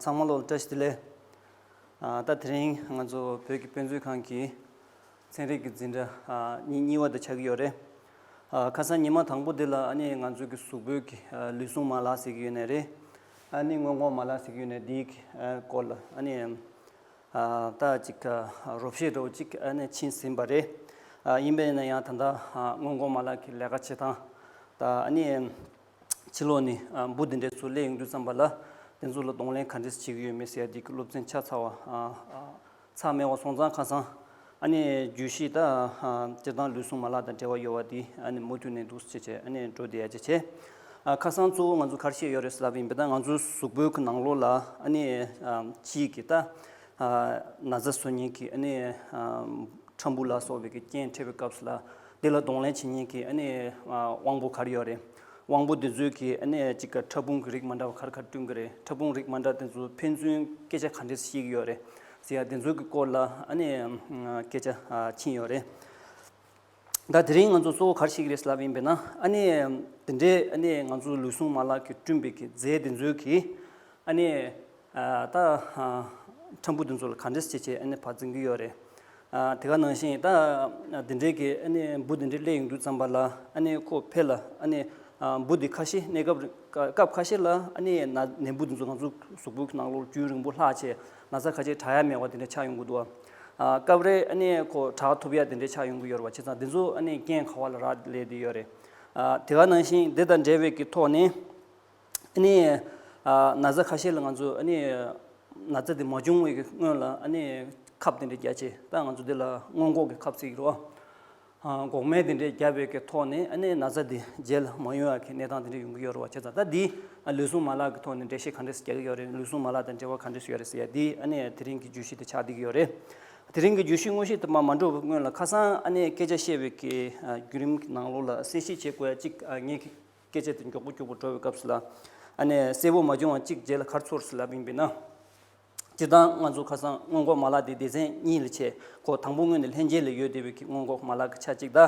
ཚང་མ་བློ་ལ་བཀྲ་ཤིས་བདེ་ལེགས། ད་དེ་རིང་ང་ཚོ་བོད་ཀྱི་དཔེ་མཛོད་ཁང་གིས། ཚན་རིག་གི་འཛིན་གྲྭ་གཉིས་བར་དུ་ཆགས་ཀྱི་ཡོད་རེད། ཁ་སང་ཉི་མ་དང་པོ་དེ་ལ་ང་ཚོས་ཀྱི་གཟུགས་པོད་ཀྱི་ལུས་ཟུངས་མ་ལག་ཟེར་གྱི་ཡོད་ནི་རེད། སྔོན་འགོག་མ་ལག་ཟེར་གྱི་ཡོད་ནི་དེའི་སྐོར་ལ་ད་ཅིག་རོབ་བཤད་རོགས་ཅིག་ཕྱིན་ཟིན་པ་རེད། ཡིན་པས་ན་ཡང་ད་ལྟ་སྔོན་འགོག་མ་ལག་གི་ལས་ཀ་བྱེད་སྟངས་དང། ཕྱི་ལོགས་ནས་འབུ་དེ་འདྲས་ཚུར་བསླད་ཡོང་དུས་བསམ་པ་ལ་དེ་ཚོ་ལ་གདོང་ལེན་ག་འདྲས་བྱེད་ཀྱི་ཡོད་མེད་ཟེར་ཡ་དེ་ཀྱི་སློབ་ཚན་ཆ་ཚང་བ། ཚ་སྨེ་བ་སོང་ཙང་ཁ་སང། ཨ་ནི་རྒྱུས་ཤིག་ད། སྤྱིར་བཏང་ལུས་ཟུངས་མ་ལག་དང་འབྲེལ་བ་ཡོད་བ་དེ་ཨ་ནི་མུ་མཐུད་ནས་འདུག་ཅེས་བྱས་ཨ་ནི་འགྲོ་བསྡད་ཅེས་བྱས། ཁ་སང་གཙོ་བོ་ང་ཚོ་གར་ཤེས་ཡོད་རེད་ཟེར་ལབ་ཡིན་པས་ད་ང་ཚོའི་གཟུགས་པོའི་གི་ནང་ལོགས་ལ་ཨ་ནི་ཅིག་གིས་ད། ན་བཟའ་བཟོ་ཉེན་གི་ཨ་ནི། ཁྲམ་བུ་ལ་སོགས་བའི་གི་རྐྱེན་འཕྲད་པའི་སྐབས་སུ་ལ། དེ་ལ་གདོང་ལེན་བྱེད་ཉེན་གི་ཨ་ནི་དབང་པོ་གར་ཡོད་རེད། དབང་པོ་དེ་ཚོའི་གི་ཨ་ནི་གཅིག་གི་ཕྲ་ཕུང་གི་རིགས་མ་འདྲ་བ་ཁར་ཁར་བསྐྲུན་གི་རེད་ཕྲ་ཕུང་རིགས་མ་འདྲ་དེ་ཚོའི་ཕན་ཚུན་སྐད་ཆ་ག་འདྲེ་བཤད་གི་ཡོད་རེད་ཟེར་ཡ་དེ་ཚོའི་གི་སྐོར་ལ་ཨ་ནི་སྐད་ཆ་ཕྱིན་ཡོད་རེད། ད་དེ་རིང་ང་ཚོ་གཙོ་བོ་གར་བཤད་གི་རེད་ཟེར་ལབ་ཡིན་པས་ན་ཨ་ནི་དེ་འདྲའི་ཨ་ནི་ང་ཚོའི་ལུས་ཟུངས་མ་ལག་གི་བསྐྲུན་པའི་གི་རྫས་དེ་ཚོའི་གི་ཨ་ནེ། ད། ཁྲམ་བུ་དེ་ཚོ་ལ་ག་འདྲས་བྱས་བྱས་ཨ་ནེ་བག་འཛིན་གྱི་ཡོད་རེད། དེ་ག་ནང་བཞིན་ད། དེ་འདྲས་ཀྱི་ཨ་ནེ་འབུ་དེ་འདྲས་སླེ་ཡོང་རྒྱུ་བརྩམས་པ་ལ་ཨ་ནེ་ཁོ་ཕེ་ལ་ཨ་ནེ། འབུ་དེ་ཁ་ཤས་གནས་སྐབས་སྐབས་ཁ་ཤས་ལ་ཨ་ནེ་ཡས་ན་ནས་འབུ་དེ་ཚོ་ང་ཚོ་གཟུགས་པོའི་ནང་ལོར་རྒྱུན་རིང་པོ་ལྷག་ཆེ་ན་ཚ་ཁ་ཆེ་བྲག་ཡ་མེ་བ་དེ་འདྲས་ཆགས་ཡོང་གི་འདུག་ཨ། སྐབས་རེ་ཨ་ནེ་ཁོ་བྲག་ཐུབ་ཡ་དེ་འདྲས་ཆགས་ཡོང་གི་ཡོད་རེད་བ་བྱས་ཙང་དེ་ཚོ་ཨ་ནེ་རྐྱེན་ག་བ་ལ་རག་ལས་དེ་ཡོད་རེད། དེ་ག་ནང་བཞིན་དེ་དང་འབྲེལ་བའི་གི་ཐོག་ནས། ནི། ན་བཟའ་ཁ་ཤས་ལ་ང་ཚོས་ནི། ན་བཟའ་དེ་མ་བྱུང་བའི་སྔོན་ལ་ནི། ཁབ་དེ་འདྲས་རྒྱ་ཆེ་ད་ང་ཚོ་དེ་ལ་སྔོན་འགོག་གི་ཁབ་ཚིག་རོ། འགོག་སྨན་དེ་འདྲས་རྒྱ་བོད་ཀྱི་ཐོག་ནས་ནི་ན་བཟའ་དེ་རྗེས་ལ་མ་ཡོང་བ་གི་གནས་སྟངས་དེ་འདྲས་ཡོང་གི་ཡོད་རེད་བ་ཁྱེད་ཚང་ད་འདིའི་ལུས་ཟུངས་མ་ལག་གི་ཐོག་ནས་འགྲེལ་བཤད་ག་འདྲས་རྒྱག་གི་ཡོད་རེད་ལུས་ཟུངས་མ་ལག་དང་འབྲེལ་བ་ག་འདྲས་ཡོད་རེད་ཟེར་ཡ་འདིའི་ནི་དེ་རིང་གི་བརྗོད་གཞི་དེ་ཆགས་བསྡད་ཀྱི་ཡོད་རེད། དེ་རིང་གི་བརྗོད་གཞི་དངོས་གཞི་དེ་མ་མ་འགྲོ་བའི་སྔོན་ལ་ཁ་སང་ནི་སྐད་ཆ་བཤད་བའི་གི་བརྒྱུད་རིམ་གི་ནང་ལོགས་ལ་གསལ་བཤད་བྱེད་དགོས་ཡ་གཅིག་ངེད་ཀྱི། སྐད་ཆ་དེ་མགྱོགས་པོ་མགྱོགས་པོ་འགྲོ་བའི་སྐབས་སུ་ལ། ཨ་ནེ། གསལ་བོ་མ་བྱུང་བ་གཅིག་རྗེས་ལ་ཁར་ཚུར་སུ་ལ་བིངས་པས་ན། སྤྱིར་བཏང་ང་ཚོ་ཁ་སང་སྔོན་འགོག་མ་ལག་དེ་སྡེ་ཚན་གཉིས་ལས་ཆེ་གོ་དང་པོ་དངོས་ནས་ལྷན་རྒྱས་ལས་ཡོད་སྡེ་བའི་གི་སྔོན་འགོག་མ་ལག་གི་ཆ་གཅིག་ད།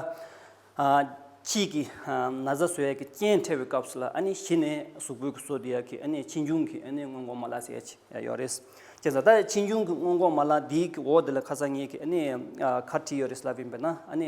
ཁྱིས་ཀྱི་ན་བཟའ་བཟོ་ཡག་གི་སྤྱན་འཁྲལ་བའི་སྐབས་སུ་ལ་ཨ་ནེ་གཞི་ནས་གཟུགས་པོའི་གི་བཟོ་དེ་ཡག་གི་ཨ་ནེ་ཕྱི་འབྱུང་གི་ཨ་ནེ་སྔོན་འགོག་མ་ལག་ཟེར་ཡག་ཆེ་ཡག་ཡོད་རེད། ཁྱེད་ཟ་ད་ཕྱི་འབྱུང་གི་སྔོན་འགོག་མ་ལག་དེའི་གི་འོག་དེ་ལ་ཁ་སང་ངས་གི་ཨ་ནེ་ཁར་བྲིས་ཡོད་རེད་སུ་ལ་བིངས་པས་ན་ཨ་ནེ།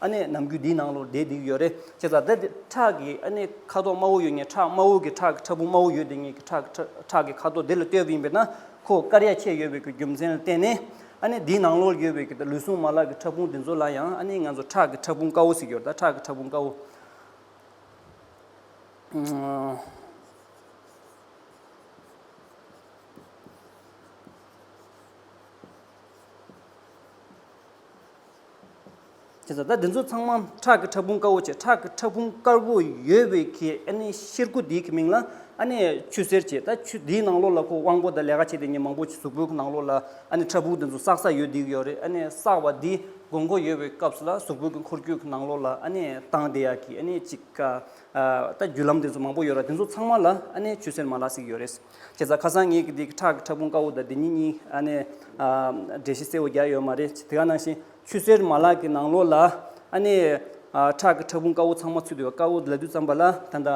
ཨ་ནེ་ནམ་རྒྱུན་འདིའི་ནང་ལོགས་བསྡད་བསྡད་ཀྱི་ཡོད་རེད་ཅེས་ལ་དྭགས་དེ་ཁྲག་གི་ཨ་ནེ་ཁ་དོག་དམར་བོ་ཡོད་ངེས་ཁྲག་དམར་བོ་གི་ཁྲག་གི་ཕྲ་ཕུང་དམར་བོ་ཡོད་དེ་ངེས་ཁྲག་ཁྲག་གི་ཁ་དོག་དེ་ལ་ལྟོས་པ་ཡིན་པས་ན་ཁོ་དཀར་ཡག་ཁྱད་ཡོད་པའི་རྒྱུ་མཚན་ལ་བརྟེན་ནས་ཨ་ནེ་འདིའི་ནང་ལོགས་ཡོད་པའི་ལུས་ཟུངས་མ་ལག་གི་ཕྲ་ཕུང་དེ་ཚོ་ལ་ཡང་ཨ་ནེ་ང་ཚོ་ཁྲག་གི་ཕྲ་ཕུང་དཀར་བོ་ཟེར་གྱི་ཡོད་ད་ཁྲག་གི་ཕྲ་ཕུང་དཀར་བོ། ཁྱེད་ཚོ་ད་འདི་ཚོ་ཚང་མ་ཁྲག་གི་ཕྲ་ཕུང་དཀར་བོ་བྱེད་ཁྲག་གི་ཕྲ་ཕུང་དཀར་བོ་ཡོད་བའི་གི་ཨ་ནི་གཤེར་སྐུ་དེའི་གི་མིང་ལ་ཨ་ནི་ཆུ་སེར་བྱེད་ད་ཆུ་དེའི་ནང་ལོགས་ལ་ཁོ་དབང་པོ་དང་ལས་ཀ་བྱེད་དེ་ཉིན་མང་པོ་གཟུགས་པོའི་ནང་ལོགས་ལ་ཨ་ནི་ཕྲ་ཕུང་དེ་ཚོ་བསགས་ས་ཡོད་དེ་གི་ཡོད་རེད་ཨ་ནི་བསགས་པ་དེའི་དགོས་མཁོ་ཡོད་བའི་སྐབས་སུ་ལ་གཟུགས་པོའི་གི་འཁོར་རྒྱུག་གི་ནང་ལོགས་ལ་ཨ་ནི་བཏང་བདེ་ཡག་གི་ཨ་ནི་གཅིག་ག་ད་རྒྱུ་ལམ་དེ་ཚོ་མང་པོ་ཡོད་ར་དེ་ཚོ་ཚང་མ་ལ་ཨ་ནི་ཆུ་སེར་མ་ལགས་སིག་ཡོད་རེད། ཁྱེད་རྩ་ཁ་སང་ངེད་ཀྱི་འདི་ཁྲག་གི་ཕྲ་ཕུང་དཀར་བོ་དང་འདི་གཉིས་གཉིས་ཨ་ནེ། འདྲེ་ཤི་སེར་བོ་བརྒྱག་ཡོད་མ་རེད་དེ་ག་ནང་བཞིན་ཆུ་སེར་མ་ལག་གི་ནང་ལོགས་ལ་ཨ་ནེ། ཁྲག་གི་ཕྲ་ཕུང་དཀར་བོ་ཚང་མ་ཚུད་འདུག་དཀར་བོ་ལ་དུས་བརྩམས་པ་ལ་ད་ལྟ།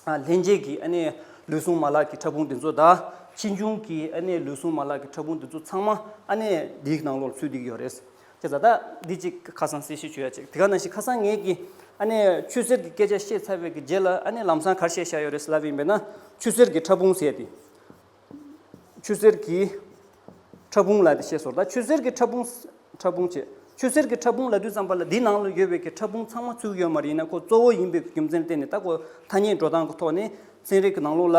ལྷན་རྒྱས་ཀྱི་ཨ་ནེ། ལུས་ཟུངས་མ་ལག་གི་ཕྲ་ཕུང་འདི་ཚོ་དང་ཕྱིས་འབྱུང་གི་ཨ་ནེ་ལུས་ཟུངས་མ་ལག་གི་ཕྲ་ཕུང་འདི་ཚོ་ཚང་མ་ཨ་ནེ། འདིའི་ནང་ལོགས་ལ་ཚུད་འདུག་ཡོད་རེད། ཁྱེད་བཟའ་ཟླ་འདི་ཅིག་ཁ་སང་གསལ་བཤད་བྱོས་ཡ་ཅིག་དེ་ག་ན་ཞིག་ཁ་སང་ངེད་ཀྱིས་ཨ་ནེ་ཆུ་ཟེར་གྱི་སྐད་ཆ་བཤད་ཚར་བའི་གི་རྗེས་ལ་ཨ་ནེ་ལམ་སང་གར་བཤད་བཞག་ཡོད་རེད་ཟེར་ལབ་ཡིན་པས་ན་ཆུ་ཟེར་གྱི་ཕྲ་ཕུང་ཟེར་ཏེ། ཆུ་ཟེར་གྱི་ཕྲ་ཕུང་ལ་དེ་བཤད་སོང་ད་ཆུ་ཟེར་གྱི་ཕྲ་ཕུང། ཕྲ་ཕུང་བྱས། ཆུ་ཟེར་གྱི་ཕྲ་ཕུང་ལ་དུས་ཙམ་པ་ལ་འདིའི་ནང་ལ་ཡོད་པའི་གི་ཕྲ་ཕུང་ཚང་མ་ཚུགས་ཡོད་མ་རེད་ཡིན་ན་ཁོ་གཙོ་བོ་ཡིན་པའི་རྒྱུ་མཚན་བསྟན་ནས་ད་ཁོ་ཐ་སྙད་འགྲོ་སྟངས་ཀྱི་ཐོག་ནས་ཚན་རིག་གི་ནང་ལུགས་ལ།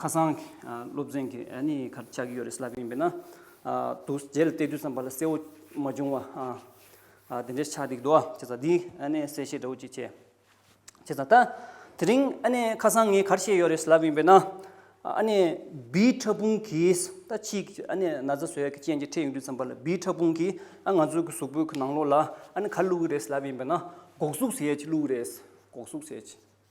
ཁ་སང་གི་སློབ་ཚན་གྱི་ནི་ཁར་ཆགས་ཀྱི་ཡོད་རེད་ཟེར་ལབ་ཀྱི་ཡིན་པས་ན། དུ་རྗེས་ལ་བལྟས་དུས་སམ་བ་ལ་གསལ་བོ་མ་བྱུང་བ། དེ་འདྲའི་ཆགས་འདུག་འདུག་བ་བྱས་ཙང་འདི་གསལ་བཤད་འདྲ་བོ་ཅིག་བྱས། བྱས་ཙང་ད་དེ་རིང་ཁ་སང་ངས་གར་བཤད་ཡོད་རེད་ཟེར་ལབ་ཀྱི་ཡིན་པས་ན། བི་ཕྲ་ཕུང་གིས་ད་ཕྱིས་ཀྱི་ན་བཟའ་ཟོས་ཀྱི་རྐྱེན་གྱིས་འཕྲད་ཡོང་དུས་སམ་བ་ལ་བི་ཕྲ་ཕུང་གིས་ང་ཚོའི་གི་གཟུགས་པོའི་གི་ནང་ལོགས་ལ་ག་བླུགས་ཀྱི་རེད་ཟེར་ལབ་ཀྱི་ཡིན་པས་ན་སྒོག་གཟུགས་ཟས་ཀྱི་བླུགས་ཀྱི་རེད། སྒོག་གཟུགས་ཟས་ཀྱི།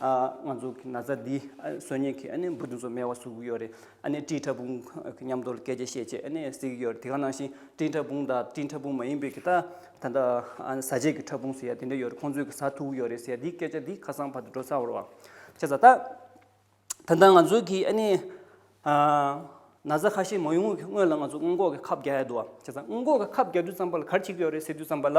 ཨ་ང་ཚོ་གི་ན་ཚ་འདི་སོ་ཉིད་ཀྱི་ཨ་ནི་འབུ་རྡུགས་སོ་མེ་བ་བཟོ་གི་ཡོད་རེད་ཨ་ནི་བཀྲིས་ཕྲ་ཕུང་གི་མཉམ་དུ་སྐད་ཆ་བཤད་ཆེད་ཨ་ནི་གཟིགས་ཀྱི་ཡོད་རེད་དེ་ག་ནང་བཞིན་བཀྲིས་ཕྲ་ཕུང་དང་བཀྲིས་ཕྲ་ཕུང་མ་ཡིན་པའི་གི་ད་ད་ལྟ་ཨ་ནི་ཟ་བྱེད་ཀྱི་ཕྲ་ཕུང་ཟེར་ཡ་དེ་འདྲ་ཡོད་རེད་ཁོང་ཚོས་གི་ཟ་ཐུབ་གི་ཡོད་རེད་ཟེར་ཡ་འདིའི་སྐད་ཆ་འདི་ཁ་སང་བར་དུ་འགྲོ་ཚར་བ་རེད་བ་ཤ་ཟ་ད་ད་ལྟ་ང་ཚོ་གི་ཨ་ནི་ན་ཚ་ཁ་ཤས་མ་ཡོང་གི་སྔོན་ལ་ང་ཚོ་སྔོན་འགོག་གི་ཁབ་རྒྱག་ཡ་འདུག་བ་ཤ་ཟ་སྔོན་འགོག་གི་ཁབ་རྒྱག་དུས་ཙམ་པ་ལ་གར་བྱེད་ཀྱི་ཡོད་རེད་ཟེར་དུས་ཙམ་པ་ལ་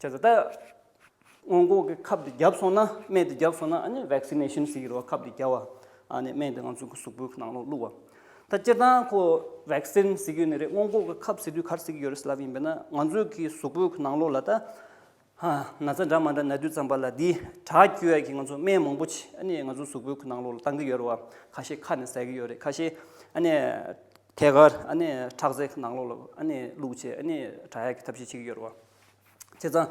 བྱས་ཙང་ད། སྔོན་འགོག་གི་ཁབ་དེ་བརྒྱབ་སོང་ན་སྨན་དེ་བརྒྱབ་སོང་ན་ཨ་ནི Vaccination ཟེར་གྱི་རེད་བ་ཁབ་དེ་བརྒྱབ་བ། ཨ་ནི་སྨན་དེ་ང་ཚོའི་གཟུགས་པོའི་ནང་ལོག་བླུགས་བ། ད་སྤྱིར་བཏང་ཁོ Vaccine ཟེར་གྱི་ནི་རེད་སྔོན་འགོག་གི་ཁབ་ཟེར་དུས་ག་རེ་ཟེར་གྱི་ཡོད་རེད་ཟེར་ལབ་ཡིན་པས་ན་ང་ཚོའི་གི་གཟུགས་པོའི་གི་ནང་ལོག་ལ་ད། ན་ཚ་འདྲ་མ་འདྲ་ན་དུས་ཙམ་པ་ལ་འདིའི་དྲག་སྐྱེ་བའི་གི་ང་ཚོ་སྨན་མང་པོ་ཆེ་ཨ་ནི་ང་ཚོའི་གཟུགས་པོའི་གི་ནང་ལོག་ལ་བཏང་གི་ཡོད་རེད་བ་ཁ་ཤས་ཁ་ནས་ཟ་གི་ཡོད་རེད་ཁ་ཤས་ཨ་ནི། ཐད་ཀར་ཁྲག་རྩའི་ནང་ལོགས་ལ་བླུགས་རྗེས་དྲག་ཡལ་གྱི་ཐབས་ཤེས་བྱེད་ཀྱི་ཡོད་རེད་བ། བྱས་ཙང།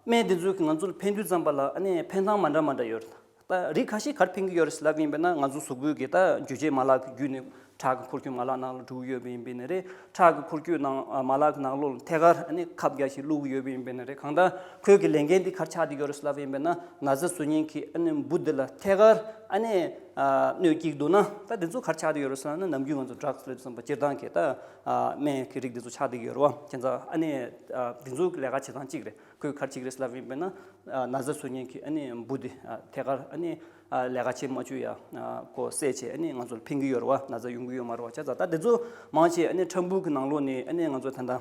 སྨན་དེ་ཚོས་ང་ཚོ་ལ་ཕན་དུས་ཙམ་པ་ལ་ཕན་སྣང་མ་འདྲ་མ་འདྲ་ཡོད་རེད་ད། རིགས་ཁ་ཤས་གར་ཕན་གྱི་ཡོད་རེད་ཟེར་ལབ་ཀྱི་ཡིན་པས་ན་ང་ཚོ་གཟུགས་པོའི་གི་འགྱུ་རྗེས་མ་ལག་གི་བརྒྱུད་ནས་ཁྲག་གི་འཁོར་སྐྱོད་མ་ལག་ནང་ལ་འགྲོ་གི་ཡོད་པས་ཡིན་པས་ན་རེད། ཁྲག་གི་འཁོར་སྐྱོད་ནང་མ་ལག་གི་ནང་ལོགས་ལ་ཐད་ཀར་ཁབ་རྒྱ་ཞིག་བླུགས་གི་ཡོད་པས་ཡིན་པས་ན་རེད་གང་ལྟར་ཁོས་གི་ལས་འགན་འདི་གར་ཆགས་ཀྱི་ཡོད་རེད་ཟེར་ལབ་ཀྱི་ཡིན་པས་ན་ན་ཟེར་བཟོ་ཉེན་གྱི་འབུ་འདི་ལ་ཐད་ཀར་སྣོད་བཀྱིགས་འདུག་ན་ད་དེ་ཚོ་གར་ཆགས་འདི་ཡོད་རེད་བསམ་ན་ནམ་རྒྱུན་ང་ཚོ་སྦྲགས་སླེབས་བསམ་པ་སྤྱིར་བཏང་གི་ད་སྨན་གྱི་རིགས་འདི་ཚོ་ཆགས་འདི་ཡོད་རེད་བ་ཁྱེད་ཚོ་ཨ་ནེ་འདི་ཚོ་ལས་ཀ་བྱེད་སྟངས་གཅིག་རེད་ཁོས་གར་ཆིག་རེ་སླེབས་ཡིན་པས་ན་ན་བཟའ་ཚོས་ཉིན་གྱི་ཨ་ནེ་འབུ་འདི་ཐད་ཀར་ཨ་ནེ་ལས་ཀ་བྱེད་མ་བཅུག་ཡ་ཁོ་བསད་བྱས་ཨ་ནེ་ང་ཚོ་ལ་ཕན་གྱི་ཡོད་རེད་བ་ན་བཟའ་ཡོང་གི་ཡོད་མ་རེད་བ་ཁྱེད་ཚོ་ད་དེ་ཚོ་མང་ཆེ་ཨ་ནེ་ཁྲམ་འབུ་གི་ནང་ལོགས་ནས་ཨ་ནེ་ང་ཚོ་ད་ད།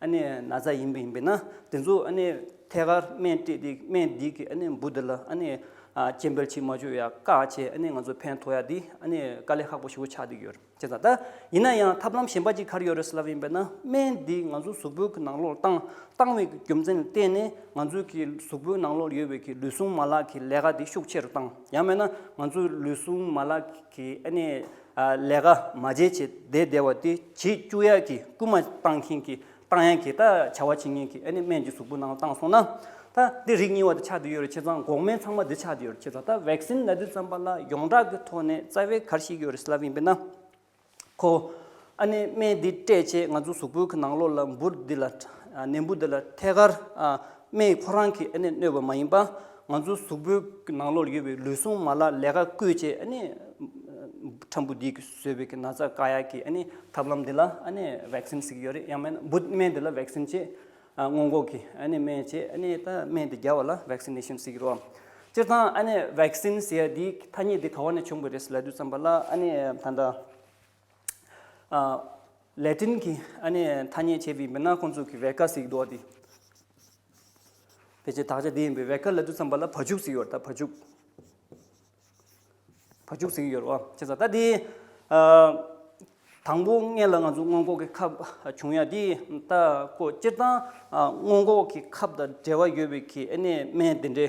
ཨ་ནི་ན་བཟའ་ཡིན་པ་ཡིན་པས་ན་དེ་ཚོ་ཨ་ནི་ཐད་ཀར་སྨན་སྤྲད་དེ་སྨན་སྡིག་གི་ཨ་ནི་འབུ་འདི་ལ་ཨ་ནི་སྐྱེ་འཕེལ་ཕྱིར་མ་བཅོས་ཡ་བཀག་བྱས་ཨ་ནི་ང་ཚོ་ཕན་ཐོགས་ཡ་དེ་ཨ་ནི་དཀའ་ལས་ཁག་པོ་ཞིག་གོ་ཆགས་འདུག་ཡོད་ཅེས་དང། ཡིན་ན་ཡང་ཐབས་ལམ་གཞན་པ་གཅིག་གར་ཡོད་རེད་ཟེར་ལབ་ཡིན་པས་ན་སྨན་འདི་ང་ཚོ་གཟུགས་པོའི་ནང་ལོགས་བཏང་བཏང་བའི་རྒྱུ་མཚན་ལ་བརྟེན་ནས་ང་ཚོའི་གི་གཟུགས་པོའི་ནང་ལོགས་ཡོད་པའི་གི་ལུས་ཟུངས་མ་ལག་གི་ལས་ཀ་དེ་ཤུགས་ཆེ་རུ་བཏང་ཡང་མེད་ན་ང་ཚོའི་ལུས་ཟུངས་མ་ལག་གི་ཨ་ནི། ལས་ཀ་མ་བྱེད་ཅེས་བསྡད་བསྡད་བ་དེ་བྱེད་བཅུག་ཡག་གི་རྐུན་མ་བཏང་མཁན་གྱིས་བཏང་ཡག་གི་ད་བྱ་བ་བྱེད་མཁན་གྱིས་ཨ་ནི་སྨན་གྱི་གཟུགས་པོ་ནང་བཏང་སོང་ན་ད་འདི་རིགས་རྙིང་བ་དེ་ཆགས་དུས་ཡོད་རེད་ཁྱེད་ཚང་འགོག་སྨན་ཚང་མ་འདི་ཆགས་དུས་ཡོད་རེད་ཁྱེད་ཚང་ད vaccine ལ་འདི་བརྩམས་པ་ལ་ཡོངས་གྲགས་ཀྱི་ཐོག་ནས་རྩ་བའི་གར་ཞིག་ཡོད་རེད་སླ་བས་འབེན་ན་ཁོ་ཨ་ནི་སྨན་འདི་སྤྲད་ཆེད་ང་ཚོ་གཟུགས་པོའི་གི་ནང་ལོགས་ལ་འབུར་འདི་ལ་ནད་འབུ་འདི་ལ་ཐད་ཀར་སྨན་ཡིག་ཁོ་རང་གིས་གནོད་པ་མ་ཡིན་པ། ང་ཚོའི་གཟུགས་པོའི་ནང་ལོགས་ལ་ཡོད་པའི་ལུས་ཟུངས་མ་ལ་ལས་ཀ་བསྐུལ་ཆེད། ཁྲམ་བུ་འདིས་བཟོས་པའི་ན་ཚ་ཀ་ཡག་གི་ཐབས་ལམ་འདི་ལ་བེཀསིན་བཟོས་ཀྱི་ཡོད་རེད་ཡང་མིན་ན་བུད་སྨན་འདི་ལ་བེཀསིན་ཆེད་སྔོན་འགོག་གི་སྨན་ཆེད་སྨན་འདི་བརྒྱབ་བ་ལ་བེཀསིན་ནེ་ཤན་བཟོས་ཀྱི་རོ། སྤྱིར་བཏང་བེཀསིན་ཟེར་ཡ་དེའི་ཐ་སྙད་འདི་ག་བ་ནས་བྱུང་བ་རེད་ཟེར་ལད་དུས་བསམ་པ་ལ་ད་ལྟ། ལས་སྐྲུན་གྱི་ཨ་ནེ་ཐ་སྙད་བྱས་པའི་མི་སྣ་ཁོང་ཚོ་གི་བེར་ཀ་ཟིག་འདུག་དེ། ཕལ་ཆེར་དག་ཆ་དེ་ཡིན་པའི་བེར་ཀ་ལ་དུས་མཚམས་པ་ལ་བ་ཕྱུགས་ཟིག་ཡོད་ད་བ་ཕྱུགས། བ་ཕྱུགས་ཟིག་ཡོད་རོ་བྱས་ས་ད་དེ། དང་པོ་ལྔས་ལ་ང་ཚོ་སྔོན་འགོག་གི་ཁབ་བྱུང་ཡ་དེ་ད་ཁོ་སྤྱིར་བཏང་སྔོན་འགོག་གི་ཁབ་དང་འབྲེལ་བ་ཡོད་པའི་གི་ཨ་ནེ་སྨན་དེ་འདྲའི།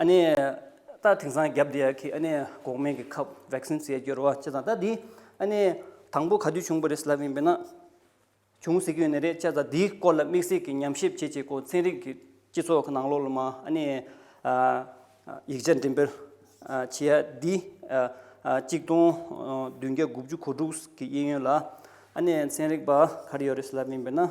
ཨཱ་ནི། ད་དེང་སང་རྒྱབ་འདི་ཡ་གི་ཨཱ་ནི་འགོག་སྨན་གྱི་ཁབ vaccines ཡ་སྐྱོར་བ་ཅི་ད་ད་འདི་ཨཱ་ནི། དང་པོ་ག་དུས་བྱུང་པ་རེད་ལབ་ཡིན་པས་ན། བྱུང་ཟེར་གྱི་ཡོད་ནི་རེད་ཅེ་ད་འདིའི་སྐོར་ལ་དམིགས་བསལ་གྱི་ཉམས་ཞིབ་བྱེད་བྱེད་གོ་ཚན་རིག་གི་སྤྱི་ཚོགས་ཀྱི་ནང་ལོགས་ལ་མ་ཨཱ་ནི། ཡིག་ཆ་འགྲེམས་སྤེལ་བྱེད་ཡ་འདི་གཅིག་སྟོང་བདུན་བརྒྱ་དགུ་བཅུ་གོ་དྲུག་གི་དབྱིན་ཡུལ་ལ་ཨཱ་ནི་ཚན་རིག་པ་ག་རེ་ཡོད་རེད་ལབ་ཡིན་པས་ན།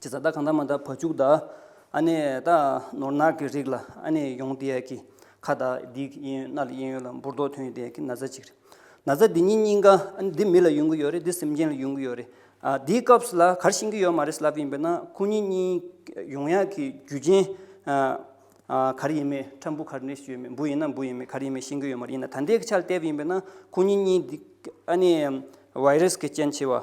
ཅི་བཟའ་ད་གང་ད་མ་ད་བ་བཅུག་ད། ཨ་ནེ་ད་ནོར་ནག་གི་རིགས་ལ་ཨ་ནེ་ཡོང་དེ་ཡ་ཀི། ཁ་ད་འདི་གི་གཡས་གཡོན་རྣ་ལ་གཡས་གཡོན་ལ་འབུར་རྡོག་ཐོན་ཡོད་དེ་ཡ་ཀི་ན་བཟའ་གཅིག་རེད། ན་བཟའ་འདི་གཉིས་གཉིས་ཀ་ཨ་ནེ་འདི་མི་ལ་ཡོང་གི་ཡོད་རེད་འདི་སེམས་ཅན་ལ་ཡོང་གི་ཡོད་རེད། འདིའི་སྐབས་སུ་ལ་གར་ཤིང་གི་ཡོད་མ་རེད་ཟེར་ལབ་ཀི་ཡིན་པས་ན་ཁོ་གཉིས་གཉིས་ཡོང་ཡ་ཀི་རྒྱུ་རྐྱེན། གར་ཡིན་མེད་ཁྲ་འབུ་གར་ནས་ཡོད་མེད་འབུ་ཡིན་ན་འབུ་ཡིན་མེད་གར་ཡིན་མེད་ཤིང་གི་ཡོད་མ་རེད་ཡིན་ན་ད་ལྟའི་ཆར་བལྟས་པ་ཡིན་པས་ན་ཁོ་གཉིས་གཉིས་འདི་ཨ་ནེ་བའི་རིས་ཀྱི་རྐྱེན་ཆེ་བ།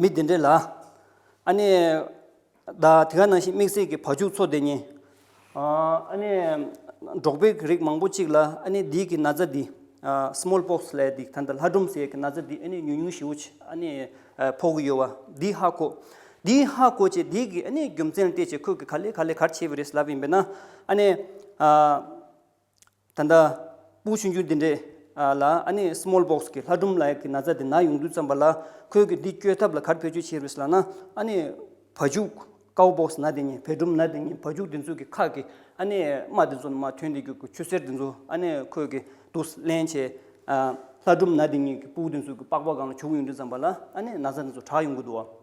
མི་དེ་འདྲའི་ལ། ཨ་ནི། བདག་དེ་ག་ནང་བཞིན་དམིགས་བསལ་གྱི་བ་ཕྱུགས་ཚོ་དེ་ཉིད། ཨ་ནི། འབྲོག་པའི་རིགས་མང་པོ་གཅིག་ལ་ཨ་ནི་འདིའི་གི་ན་ཚ་འདི། Small Pox། ལས་འདི་ད་ལྟ་ལྷ་སྒྲོམ་ཟེར་ཡས་ཀྱི་ན་ཚ་འདི་ཨ་ནི་ཉུང་ཉུང་ཞིག་འོ་ཨ་ནི། ཕོག་གི་ཡོད་བ་འདི་ཧ་གོ། འདི་ཧ་གོ་བྱས་འདིའི་གི་ཨ་ནི་རྒྱུ་མཚན་ལྟས་བྱས་ཁོས་གི་ག་ལས་ག་ལས་གར་བྱས་པ་རེད་ལབ་ཡིན་པས་ན་ཨ་ནི། ད་ལྟ། པུའུ་ཆུན་ཆུན་དེ་འདྲས། ལ་ཨ་ནི Small Box གི་ལྷ་སྒྲུང་ལ་ཡ་གི་ན་ཚ་དེ་ན་ཡོང་དུས་བརྩམས་པ་ལ་ཁོས་གི་འདི་བསྐྱོད་ཐབས་ལ་གར་བེད་སྤྱོད་བྱེད་རུས་ལ་ན་ཨ་ནི་བ་ཕྱུགས Cow Box ན་དེ་ཉིད་བེ་སྒྲུམ་ན་དེ་ཉིད་བ་ཕྱུགས་དེ་ཚོས་གི་ཁག་གི་ཨ་ནི་རྨ་དེ་ཚོ་ན་མ་ཐོན་དེ་གི་གི་ཆུ་སེར་དེ་ཚོ་ཨ་ནི་ཁོས་གི་དུ་སླན་བྱས། ལྷ་སྒྲུང་ན་དེ་ཉིད་གི་པུའུ་དེ་ཚོས་གི་པགས་པ་གང་ལ་བྱུག་ཡོང་དུས་བརྩམས་པ་ལ་ཨ་ནི་ན་ཚ་དེ་ཚོ་གྲགས་ཡོང་གི་འདུག་བ།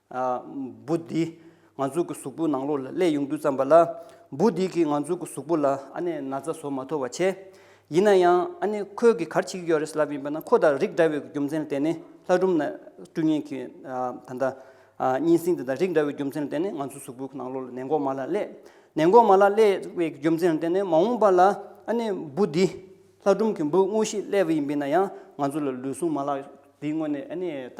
འབུ་འདིས་ང་ཚོ་གི་གཟུགས་པོའི་ནང་ལོགས་ལ་ཀླད་ཡུངས་དུད་བརྩམས་པ་ལ། འབུ་འདིས་ཀྱིས་ང་ཚོ་གི་གཟུགས་པོ་ལ་ཨ་ནེ་ན་ཚ་བཟོ་མ་ཐུབ་པ་བྱས། ཡིན་ན་ཡང་ཨ་ནེ་ཁོས་གིས་གར་བྱེད་ཀྱི་ཡོད་རེད་ལབ་ཡིན་པ་ན་ཁོ་དང་རིགས་འདྲ་བའི་རྒྱུ་མཚན་ལ་བརྟེན་ནས་ལྷ་སྒྲུང་ན་སྤྲུལ་ངན་གྱི་ད་ལྟ་གཉན་སྲིན་དེ་དང་རིགས་འདྲ་བའི་རྒྱུ་མཚན་ལ་བརྟེན་ནས་ང་ཚོའི་གཟུགས་པོའི་ནང་ལོགས་ལ་ནད་འགོག་མ་ལ་ཀླད་ནད་འགོག་མ་ལ་ཀླད་བའི་རྒྱུ་མཚན་ལ་བརྟེན་ནས་མ་འོངས་པ་ལ་ཨ་ནེ་འབུ་འདིས་ལྷ་སྒྲུང་གི་འབུ་དངོས་ཤིག་ཀླད་པ་ཡིན་པས་ན་ཡང་ང་ཚོ་ལ་ལུས་ཟུངས་མ་ལག་འདིའི་སྔོན་ནས་ཨ་ནེ་ད་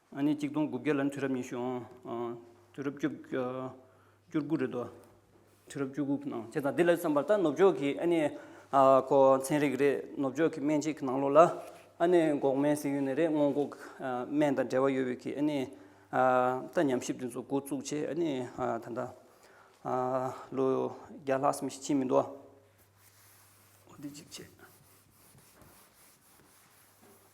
ཨ་ནི་གཅིག་སྟོང་དགུ་བརྒྱ་ལ་ནི་དུས་རབས་ཉི་ཤུ་འོང། དུས་རབས་བཅུ། བཅུ་དགུ་རེད་དོ། དུས་རབས་བཅུ་དགུ་གི་ནང་བྱས་ཙང་དེ་ལ་བསམ་པར་ད་ནུབ་ཕྱོགས་ཀྱི་ཨ་ནི། ཁོ་ཚན་རིག་རེད་ནུབ་ཕྱོགས་ཀྱི་སྨན་དཔྱད་ཀྱི་ནང་ལོགས་ལ། ཨ་ནི་འགོག་སྨན་ཟེར་ཡུལ་ནས་རེད་སྔོན་འགོག་སྨན་དང་འབྲེལ་བ་ཡོད་བའི་གི་ཨ་ནི། ད་ཉམས་ཞིབ་དེ་ཚོ་འགོ་བཙུགས་ཆེད་ཨ་ནི་ད་ལྟ། ལོ་བརྒྱ་ལྷག་སམ་ཞིག་ཕྱིན་མི་འདུག་ཨ། འདི་གཅིག་བྱས།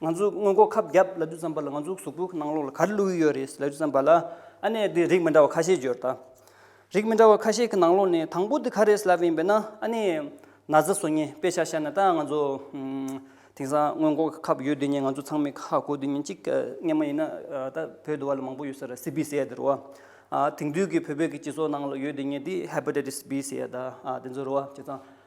ང་ཚོས་སྔོན་འགོག་ཁབ་རྒྱབ་ལ་རྡུལ་ཙམ་པ་ལ་ང་ཚོའི་གཟུགས་པོའི་ནང་ལོགས་ལ་ག་རེ་བླུགས་ཡི་ཡོད་རེད་ཟེར་ལ་རྡུལ་ཙམ་པ་ལ། ཨ་ནེ་འདི་རིགས་མི་འདྲ་བ་ཁ་ཤས་བརྗོད་ད། རིགས་མི་འདྲ་བ་ཁ་ཤས་ཀྱི་ནང་ལོགས་ནས་དང་པོ་འདི་ག་རེ་ཟེར་ལབ་ཡིན་པས་ན་ཨ་ནེ། ན་བཟའ་སོ་ཉེས་དཔེ་ཆ་ཤར་ན་ད་ང་ཚོ། དེང་སང་སྔོན་འགོག་གི་ཁབ་ཡོད་དུས་ཉིན་ང་ཚོ་ཚང་མས་ཁ་བསྐོ་དུས་ཉིན་གཅིག་སྔས་མ་ཡིན་ན་ད་བོད་དུ་བ་ལ་མང་པོ་ཡོད་ས་རེད་སི་བྷི་སེ་ཡ་དེ་རུ་བ། དེང་དུས་ཀྱི་བོད་པའི་གི་སྤྱི་ཚོགས་ནང་ལོགས་ཡོད་དུས་ཉིན་དེ་ཧེ་པ་ཏེ་ཏི་སི་བྷི་སེ་ཡ་ད་དེ་ཚོ་རུ་བ་བྱས་ཙང།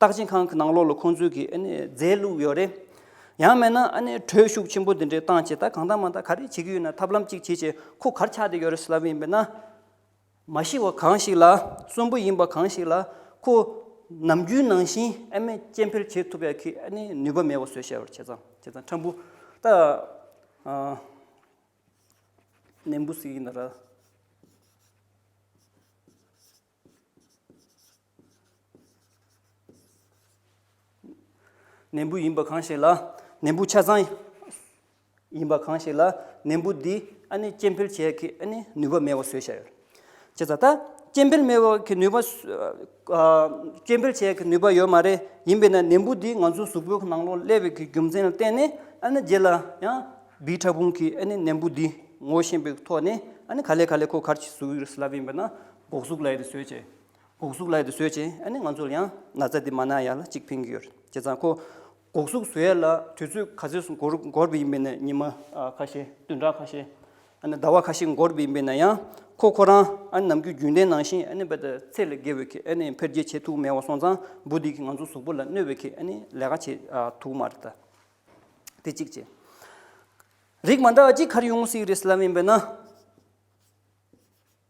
རྟགས་ཅན་ཁང་གི་ནང་ལོགས་ལ་ཁོང་ཚོས་ཀྱི་རྫས་བླུགས་ཡོད་རེད། ཡང་མེད་ན་གྲོས་ཤུགས་ཆེན་པོ་འདི་འདྲའི་བཏང་བྱས་ད་གང་ལྟ་མ་ལྟ་ག་རེ་བྱེད་ཀྱི་ཡོད་ན་ཐབས་ལམ་གཅིག་བྱེད་ཆེད་ཁོ་གར་ཆགས་བསྡད་ཡོད་རེད་ཟེར་ལབ་ཡིན་པས་ན། མ་ཤི་བ་གང་ཞིག་ལ་གསོན་པོ་ཡིན་པ་གང་ཞིག་ལ་ཁོ་ནམ་རྒྱུན་ནང་བཞིན་ཨ་མས་སྐྱེ་འཕེལ་བྱེད་ཐུབ་ཡག་གི་ནུས་པ་མེད་པ་བཟོས་བྱས་པར་བྱས་ཙང་བྱས་ཙང་ཁྲམ་བུ་ད་ནན་པོ་ཟིག་ཡིན་ན་ར། ནན་བུ་ཡིན་པ་གང་ཞིག་ལ་ནན་བུ་ཆ་ཚང་ཡིན་པ་གང་ཞིག་ལ་ནན་བུ་འདི་ཨ་ནི་སྐྱེ་འཕེལ་བྱེད་ཀྱི་ཨ་ནི་ནུས་པ་མེད་པ་བཟོས་ཤག་ཅེས་ད་ལྟ་སྐྱེ་འཕེལ་མེད་པ་གི་ནུས་པ་སྐྱེ་འཕེལ་བྱེད་ཀྱི་ནུས་པ་ཡོད་མ་རེད་ཡིན་པས་ན་ནན་བུ་འདི་ང་ཚོའི་གཟུགས་པོའི་ནང་ལོགས་ཀླད་པའི་རྒྱུ་མཚན་ལ་བརྟེན་ནས་ཨ་ནི་རྗེས་ལ་ཡང་བིས་ཕྲ་ཕུང་གིས་ཨ་ནི་ནན་བུ་འདི་ངོ་ཤེས་པའི་ཐོག་ནས་ཨ་ནི་ག་ལེ་ག་ལེ་ཁོ་གར་གྱི་གཟུགས་ཡོད་སླ་བ་ཡིན་པས་ན། སྒོག་གཟུགས་ལས་དེ་བཟོས་བྱས། སྒོག་གཟུགས་ལས་དེ་བཟོས་བྱས་ཨ་ནི་ང་ཚོར་ཡང་ན་ཚ་དེ་མ་ན་ཡ་ལ་གཅིག་ཕན་གྱི་ཡོད་རེད་བྱས་ཙང་ཁོ། སྒོག་གཟུགས་བཟོས་ཡས་ལ་དུས་ཚོད་ག་ཚོད་སུ་འགོར་འགོར་བའི་ཡིན་པས་ན་ཉི་མ་ཁ་ཤས་བདུན་ཕྲག་ཁ་ཤས་ཨ་ནི་ཟླ་བ་ཁ་ཤས་འགོར་བའི་ཡིན་པས་ན་ཡང་ཁོ་ཁོ་རང་ཨ་ནི་ནམ་རྒྱུན་རྒྱུན་ལྡན་ནང་བཞིན་ཨ་ནི་བད་ཚད་ལས་བརྒལ་བའི་ཁེ་ཨ་ནི་འཕེལ་རྒྱས་བྱེད་ཐུབ་མེད་བ་སོང་ཙང་འབུ་དེ་གིས་ང་ཚོ་གཟུགས་པོ་ལ་གནོད་བའི་ཁེ་ཨ་ནི་ལས་ཀ་བྱེད་ཐུབ་མ་རེད་ད། དེ་གཅིག་བྱས། རིགས་མ་འདྲ་བ་གཅིག་གར་ཡོང་སྲིད་རེད་སེ་ལབ་ཡིན་པས་ན།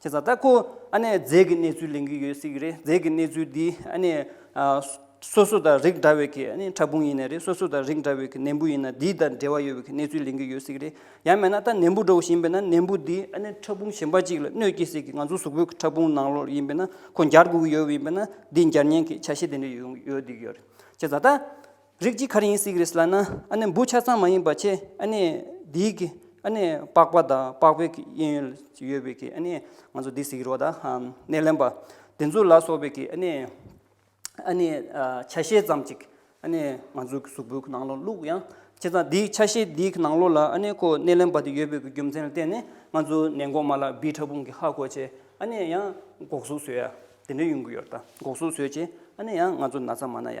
ཁྱེད་ཚང་ལྟ་ཁོ་ཨ་ནེ་རྫས་ཀྱི་གནས་ཚུལ་ལེན་གྱི་ཡོད་སྲིད་ཀྱི་རེད་རྫས་ཀྱི་གནས་ཚུལ་འདི་ཨ་ནེ། སོ་སོ་དང་རིགས་འདྲ་བའི་ཁྱེད་ཨ་ནེ་ཕྲ་ཕུང་ཡིན་ནི་རེད་སོ་སོ་དང་རིགས་འདྲ་བའི་ཁྱེད་ནད་འབུ་ཡིན་ན་འདི་དང་འབྲེལ་བ་ཡོད་པའི་ཁྱེད་གནས་ཚུལ་ལེན་གྱི་ཡོད་སྲིད་ཀྱི་རེད་ཡང་མེད་ན་ད་ནད་འབུ་འགྲོ་བཞིན་པས་ན་ནད་འབུ་འདི་ཨ་ནེ་ཕྲ་ཕུང་གཞན་པ་ཅིག་ལ་གནོད་སྐྱེལ་སྲིད་ཀྱི་ང་ཚོ་གཟུགས་པོའི་ཕྲ་ཕུང་ནང་ལོགས་ཡིན་པས་ན་ཁོ་འགྱར་དགོས་ཀྱི་ཡོད་ཡིན་པས་ན་འདི་འགྱར་ཉེན་གྱི་ཆ་ཤས་དེ་འདྲ་ཡོད་ཡོད་སྲིད་ཀྱི་ཡོད་རེད་ཁྱེད་ཚང་ལྟ། རིགས་ཀྱི་ཁར་ཡིན་སྲིད་ཀྱི་རེད་ལ་ན། ཨ་ནི་འབུ་ཆ་ཚང་མ་ཡིན་པ་ཆེ། ཨ་ནི་འདིའི་གི། ཨ་ནི་པགས་པ་དང་པགས་པའི་གི་དབྱིན་ཡུལ་ཡོད་པའི་གི་ཨ་ནི། ང་ཚོ་འདི་ཟིག་རོ་ད་ནས་ལན་པ། དེ་ཚོ་ལ་སོགས་པའི་གི་ཨ་ནི། ཨ་ནི་ཆ་ཤས་ཙམ་ཅིག་ཨ་ནི་ང་ཚོའི་གི་གཟུགས་པོའི་གི་ནང་ལོ་བླུགས་ཡང། བྱས་ཙང་འདིའི་ཆ་ཤས་འདིའི་གི་ནང་ལོ་ལ་ཨ་ནི་ཁོ་སྣེ་ལེན་པ་དེ་ཡོད་པའི་གི་རྒྱུ་མཚན་ལ་བརྟེན་ནས་ང་ཚོ་ནད་འགོག་མ་ལ་བི་ཁྲ་བུང་གི་ཧ་གོ་ཆེ་ཨ་ནི་ཡང་འགོག་གཟུགས་ཟོས་ཡ། དེ་འདྲའི་ཡོང་གི་ཡོད་ད་འགོག་གཟུགས་ཟོས་ཆེ་ཨ་ནི་ཡང་ང་ཚོ་ན་ཚ་མ་ན་ཡ།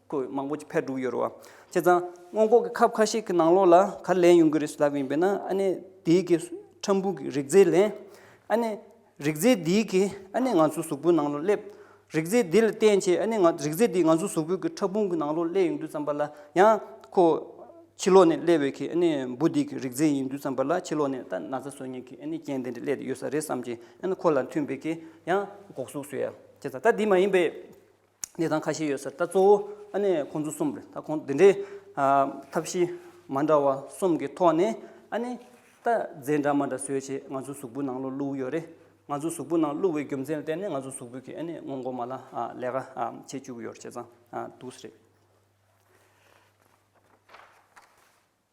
ཁོས་མང་པོ་ཕར་བསྒྲུགས་ཡོད་རེད་བ། བྱས་ཙང། སྔོན་འགོག་གི་ཁབ་ཁ་ཤས་ཀྱི་ནང་ལོགས་ལ་གར་ལེན་ཡོང་གི་རེད་ཟེར་ལབ་ཡིན་པས་ན་ཨ་ནེ་དེའི་གི་ཁྲམ་བུ་གི་རིག་རྫས་ལེན། ཨ་ནེ། རིག་རྫས་དེའི་གི་ཨ་ནེ་ང་ཚོའི་གཟུགས་པོའི་ནང་ལོགས་སླེབ། རིག་རྫས་དེ་ལ་བརྟེན་ཆེད་ཨ་ནེ་ང་རིག་རྫས་དེ་ང་ཚོའི་གཟུགས་པོའི་གི་ཕྲ་ཕུང་གི་ནང་ལོགས་སླེབ་ཡོང་དུས་བརྩམས་པ་ལ་ཡང། ཁོ། ཕྱི་ལོགས་ནས་སླེབ་བའི་གི་ཨ་ནེ་འབུ་དེའི་གི་རིག་རྫས་ཡིན་དུས་བརྩམས་པ་ལ་ཕྱི་ལོགས་ནས་ད་ན་ཚ་བཟོ་ཉེན་གི་ཨ་ནེ་རྐྱེན་དེ་འདྲ་སླེབ་ཡོད་ས་རེད་བསམ་གྱིན་ཨ་ནེ་ཁོ་ལ་མཐུན་པའི་གི་ཡང་འགོག་གཟུགས་བཟོས། བྱས་ཙང་ད་དེ་མ་ཡིན་པའི། གནས་སྟངས་ཁ་ཤས་ཡོད་ཟེར་ད་གཙོ་བོ་ཨ་ནི་ཁོང་ཚོ་གསུམ་རེད་ད་ཁོང་འདི་འདྲའི། ཐབས་ཤེས་མ་འདྲ་བ་གསུམ་གྱི་ཐོག་ནས་ཨ་ནི་ད་རྫས་འདྲ་མ་འདྲ་བཟོས་རྗེས་ང་ཚོའི་གཟུགས་པོའི་ནང་ལོ་བླུགས་ཡོད་རེད་ང་ཚོའི་གཟུགས་པོའི་ནང་བླུགས་བའི་རྒྱུ་མཚན་ལྟར་ནས་ང་ཚོའི་གཟུགས་པོའི་གི་ཨ་ནི་སྔོན་མགོ་མ་ལ་ལས་ཀ་བྱེད་བཅུག་ཡོད་རེད་བྱས་ཙང་འདུག་ཟེར།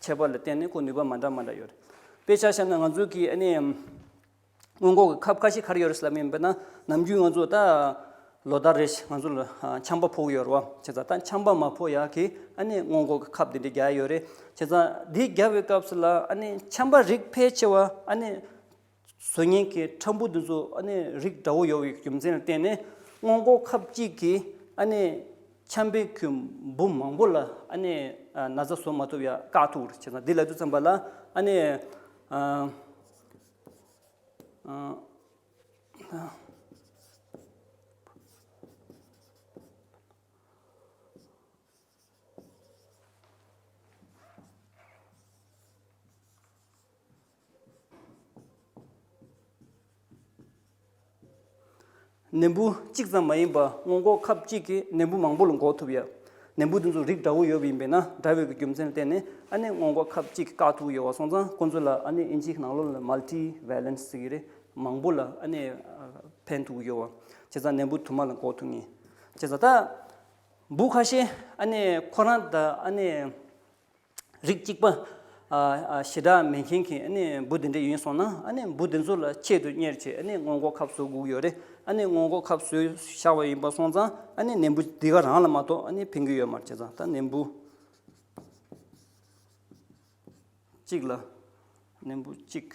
ཁྱད་པར་ལ་བརྟེན་ནས་ཁོ་ནུས་པ་མ་འདྲ་མ་འདྲ་ཡོད་རེད། དཔེ་ཆ་བཤམས་ན་ང་ཚོ་གིས་ཨ་ནི། སྔོན་འགོག་གི་ཁབ་ཁ་ཤས་གར་ཡོད་རེད་བསམ་ཡོད་དཔེར་ན་ནམ་རྒྱུན་ང་ཚོ་ད། ལོ་ཟླ་རེ་བཞིན་ང་ཚོ་ལ་ཆམ་པ་ཕོག་ཡོད་རེད་བ། བྱས་ཙང་ད་ཆམ་པ་མ་ཕོག་ཡག་གིས་ཨ་ནི་སྔོན་འགོག་གི་ཁབ་དེ་འདྲ་བརྒྱ་ཡོད་རེད། བྱས་ཙང་དེ་བརྒྱ་བའི་སྐབས་སུ་ལ་ཨ་ནི་ཆམ་པ་རིགས་ཕལ་ཆེ་བ་ཨ་ནི། བཟོ་ཉེན་ཁའི་ཁྲམ་བུ་འདི་ཚོ་རིགས་འདྲ་བོ་ཡོད་པའི་རྒྱུ་མཚན་ལ་བརྟེན་ནས་སྔོན་འགོག་ཁབ་གཅིག་གིས་ཁྱམས་པའི་ཁུལ་འབུམ་མང་པོ་ལ་ན་བཟའ་བཟོ་མ་ཐུབ་ཡ་བཀག་ཐུབ་པར་བྱས་ཙང་འདི་ལ་དུས་མཚམས་པ་ལ། ནད་འབུ་གཅིག་ཙམ་མ་ཡིན་པར་སྔོན་འགོག་ཁབ་གཅིག་གིས་ནད་འབུ་མང་པོ་ལ་འགོག་ཐུབ་ཡ། ནད་འབུ་དེ་ཚོ་རིགས་འདྲ་བོ་ཡོད་པ་ཡིན་པས་ན་འདྲ་བའི་གི་རྒྱུ་མཚན་ལ་བརྟེན་ནས་ཨ་ནེ་སྔོན་འགོག་ཁབ་གཅིག་བཀག་ཐུབ་ཀྱི་ཡོད་བ་སོང་ཙང་ཁོང་ཚོ་ལ་ཨ་ནེ་ཨིན་ཇིའི་ནང་ལོགས་ལ Multi Valence ཟེར་གྱི་རེད་མང་པོ་ལ་ཨ་ནེ་ཕན་ཐུག་གི་ཡོད་བ། བྱས་ཙང་ནད་འབུ་དུ་མ་ལ་འགོག་ཐུབ་ངེས། བྱས་ཙང་ད་འབུ་ཁ་ཤས་ཨ་ནེ་ཁོ་རང་ད་ཨ་ནེ། རིགས་གཅིག་པ། ཞི་དྲག་མེད་མཁན་གྱི་འབུ་དེ་འདྲ་ཡིན་སོང་ན། འབུ་དེ་ཚོ་ལ་ཆེད་དུ་གཉེར་བྱེད་སྔོན་འགོག་ཁབ་བཟོ་དགོས་ཡོད་རེད། སྔོན་འགོག་ཁབ་བཟོས་བཞག་པ་ཡིན་པ་སོང་ཙང་ནད་འབུ་དེ་ག་རང་ལ་མ་གཏོགས་ཕན་གྱི་ཡོད་མར་བྱས་ཙང་ད་ནད་འབུ་གཅིག་ལ། ནད་འབུ་གཅིག།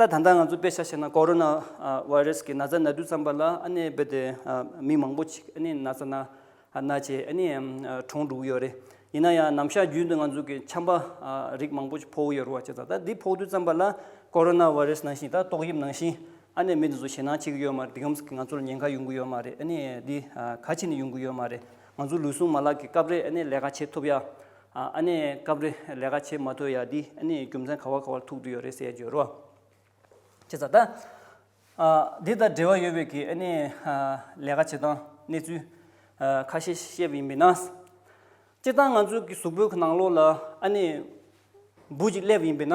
ད་ད་ལྟ་ང་ཚོ་དཔེ་ཆ་བཤད་ན་ཀོ་རོ་ན་བྷ་རེས་ཀྱི་ན་ཚ་ན་དུས་བརྩམས་པ་ལ་ཨ་ནེ་རྦད་དེ་མི་མང་པོ་ཆིག་ཨ་ནེ་ན་ཚ་ན་ན་ཆེ་ཨ་ནེ་གྲོངས་འགྲོ་གི་ཡོད་རེད་ཡིན་ན་ཡང་ནམ་ཞག་རྒྱུན་དུ་ང་ཚོ་གི་ཆམ་པ་རིགས་མང་པོ་ཕོག་ཡོད་རུ་བ་ཆེ་ད་ད་འདི་ཕོག་དུས་བརྩམས་པ་ལ་ཀོ་རོ་ན་བྷ་རེས་ནང་བཞིན་ད་ཏོག་དབྱིབས་ནང་བཞིན་ཨ་ནེ་མི་འདི་ཚོ་ཞེད་སྣང་བྱེད་ཀྱི་ཡོད་མ་རེད་དེ་ཡོམ་ང་ཚོ་ལ་ཉེན་ཁ་ཡོང་གི་ཡོད་མ་རེད་ཨ་ནེ་འདི་ག་ཕྱིན་ནས་ཡོང་གི་ཡོད་མ་རེད་ང་ཚོ་ལུས་ཟུངས་མ་ལག་གི་སྐབས་རེ་ཨ་ནེ་ལས་ཀ་བྱེད་ཐུབ་ཡ། ཨ་ཨ་ནས་སྐབས་རེ་ལས་ཀ་བྱེད་མ་ཐུབ་ཡ་འདི་ཨ་ནས་རྒྱུ་མཚན་ག་བ་ག་བར་ཐུག་ཏུ་ཡོད་རེད་ཟེར་བརྗོད་རོགས་བྱེད་ས་ད་ཨ་འདི་དང་འབྲེལ་བ་ཡོད་བས་ཀྱི་ཨ་ནས་ལས་ཀ་བྱེད་སྟངས་གནས་ཚུལ་ཁ་ཤས་བཤད་པ་ཡིན་པས་ན། སྤྱིར་བཏང་ང་ཚོའི་གི་གཟུགས་པོའི་གི་ནང་ལོགས་ལ་ཨ་ནས་འབུ་གཅིག་སླེབས་ཡིན་པས་ན།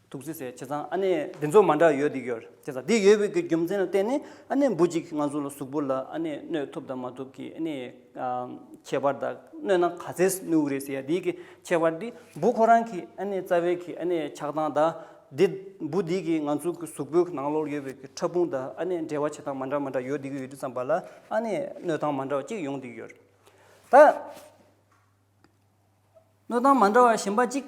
ཐུགས་རྗེ་ཟེར་ཁྱེད་ཚང་ཨ་ནེ་འདི་ཚོ་མ་འདྲ་ཡོད་འདི་ཡོད་ཁྱེད་ཚང་འདི་ཡོད་བོད་ཀྱི་རྒྱུ་མཚན་ལ་བརྟེན་ནས་ཨ་ནེ་འབུ་གཅིག་ང་ཚོ་ལ་གཟུགས་པོ་ལ་ཨ་ནེ་གནོད་ཐུབ་དང་མ་ཐུབ་ཀྱི་ཨ་ནེའི་ཁྱད་པར་དང་གནོད་ན་ག་ཚད་གནོད་གི་རེད་ཟེར་ཡ་འདི་གི་ཁྱད་པར་འདི་འབུ་ཁོ་རང་གི་ཨ་ནེ་རྩ་བའི་གི་ཨ་ནེའི་ཆགས་སྟངས་དང་འདི་འབུ་འདི་གི་ང་ཚོ་གི་གཟུགས་པོའི་ནང་ལོགས་ཡོད་བོད་ཀྱི་ཕྲ་ཕུང་དང་ཨ་ནེ་འབྲེལ་བ་བྱེད་སྟངས་མ་འདྲ་མ་འདྲ་ཡོད་འདི་གི་ཡོད་འདི་ཙམ་པ་ལ་ཨ་ནེ་གནོད་སྟངས་མ་འདྲ་བ་གཅིག་ཡོང་འདི་གི་ཡོད་རེད་ད། གནོད་སྟངས་མ་འདྲ་བ་གཞན་པ་གཅིག།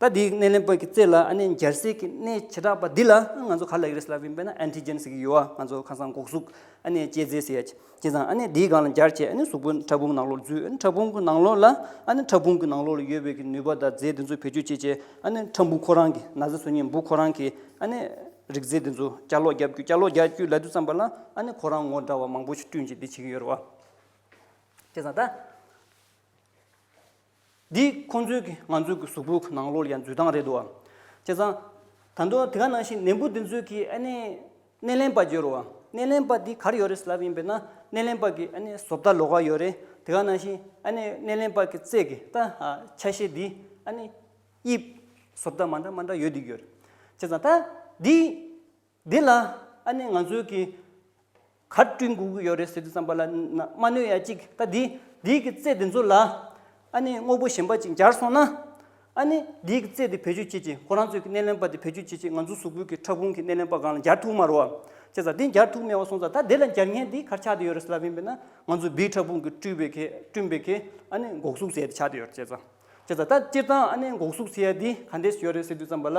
ད་དེའི་སྣེ་ལེན་པ་གི་རྩེ་ལ་ཨ་ནེ་འབྱར་སྲེག་གི་སྣེ་བྱེ་བྲག་པ་འདི་ལ་ང་ཚོ་ག་ལ་ཡི་རེད་ཟེར་ལབ་བིན་པས་ན Antigen ཟེར་གི་ཡོད་ཨ་ང་ཚོ་ཁ་སང་གོག་གཟུགས་ཨ་ནེ་སྐྱེད་རྫས་ཟེར་ཡ་བྱས་ཙང་ཨ་ནེ་དེའི་སྒང་ལ་འབྱར་བྱས་ཨ་ནེ་གཟུགས་པོ་ཕྲ་ཕུང་ནང་ལོགས་ལ་འཛུལ་ཨ་ནེ་ཕྲ་ཕུང་གི་ནང་ལོགས་ལ་ཨ་ནེ་ཕྲ་ཕུང་གི་ནང་ལོགས་ལ་ཡོད་པའི་གི་ནུས་པ་དང་རྫས་དེ་ཚོ་བེད་སྤྱོད་བྱས་བྱས་ཨ་ནེ་ཕྲ་འབུ་ཁོ་རང་གི་ན་ཟེར་སོ་ཉིན་འབུ་ཁོ་རང་གི་ཨ་ནེ་རིགས་རྫས་དེ་ཚོ་བསྐྱར་ལོགས་རྒྱབ་བསྐྱུར་བསྐྱར་ལོགས་རྒྱག་བསྐྱུར་ལ་དུས་བརྩམས་པ་ལ་ཨ་ནེ་ཁོ་རང་ངོ་འདྲ་བ་མང་པོ་ཞིག་བསྐྲུན་བྱས་དེ་བྱེད་ཀྱི་ཡོད་རེད་བ། བྱས་ཙང་ད། འདི་ཁོ་ཚོའི་གི་ང་ཚོའི་གི་གཟུགས་པོའི་གི་ནང་ལོགས་ལ་ཡང་འཛུལ་སྟངས་རེད་འདུག་བ། བྱས་ཙང། ད་དུང་དེ་ག་ནང་བཞིན་ནད་འབུ་འདི་ཚོའི་གི་ཨ་ནི། སྣེ་ལེན་པ་བརྗོད་རུང་བ། སྣེ་ལེན་པ་འདི་གར་ཡོད་རེད་ཟེར་ལབ་ཡིན་པས་ན་སྣེ་ལེན་པ་གི་ཨ་ནི་བཟོ་ལྟ་ལོགས་ཀ་ཡོད་རེད་དེ་ག་ནང་བཞིན་ཨ་ནི་སྣེ་ལེན་པ་གི་རྩེ་གི་ལྟ་ཧ་ཆ་ཤས་འདི་ཨ་ནི། དབྱིབས། བཟོ་ལྟ་མ་འདྲ་མ་འདྲ་ཡོད་འདུག་ཡོད་རེད། བྱས་ཙང་ད། འདི། འདི་ལ་ཨ་ནེ་ང་ཚོའི་གིས་གར་བསྐྲུན་དགོས་ཀྱི་ཡོད་རེད་ཟེར་དུས་བསམ་པ་ལ་མ་གནོད་ཡ་གཅིག་ད་འདི་འདིའི་གི་རྩེད་དེ་ཚོ་ལ་ཨ་ནེ་དངོས་པོ་གཞན་པ་ཅིག་འབྱར་སོང་ན་ཨ་ནེ་འདིའི་གི་རྩེད་དེ་བེད་སྤྱོད་བྱེད་ཅིག་ཁོ་རང་ཚོའི་གི་སྣེ་ལེན་པ་དེ་བེད་སྤྱོད་བྱེད་ཅིག་ང་ཚོའི་གཟུགས་པོའི་གི་ཕྲ་ཕུང་གི་སྣེ་ལེན་པ་གང་ལ་འབྱར་ཐུག་མ་རོ་བ་ཅེས་ཟ་འདི་འབྱར་ཐུག་མེད་བ་སོང་ཟ་ད་འདི་ལ་འབྱར་ངན་འདི་གར་ཆགས་དེ་ཡོད་རེད་ཟེར་ལབ་ཡིན་པས་ན་ང་ཚོའི་བིའི་ཕྲ་ཕུང་གི་བསྐྲུས་པའི་གི་བསྐྲུན་པའི་གི་ཨ་ནེ་འགོག་སུག་ཟས་དེ་ཆགས་དེ་ཡོད་རེད་ཅེས་ཟ་ད་སྤྱིར་བཏང་ཨ་ནེ་འགོག་སུག་ཟས་ཡ་འདི་ག་འདྲས་སུ་ཡོད་རེད་ཟེར་དུས་བསམ་པ་ལ།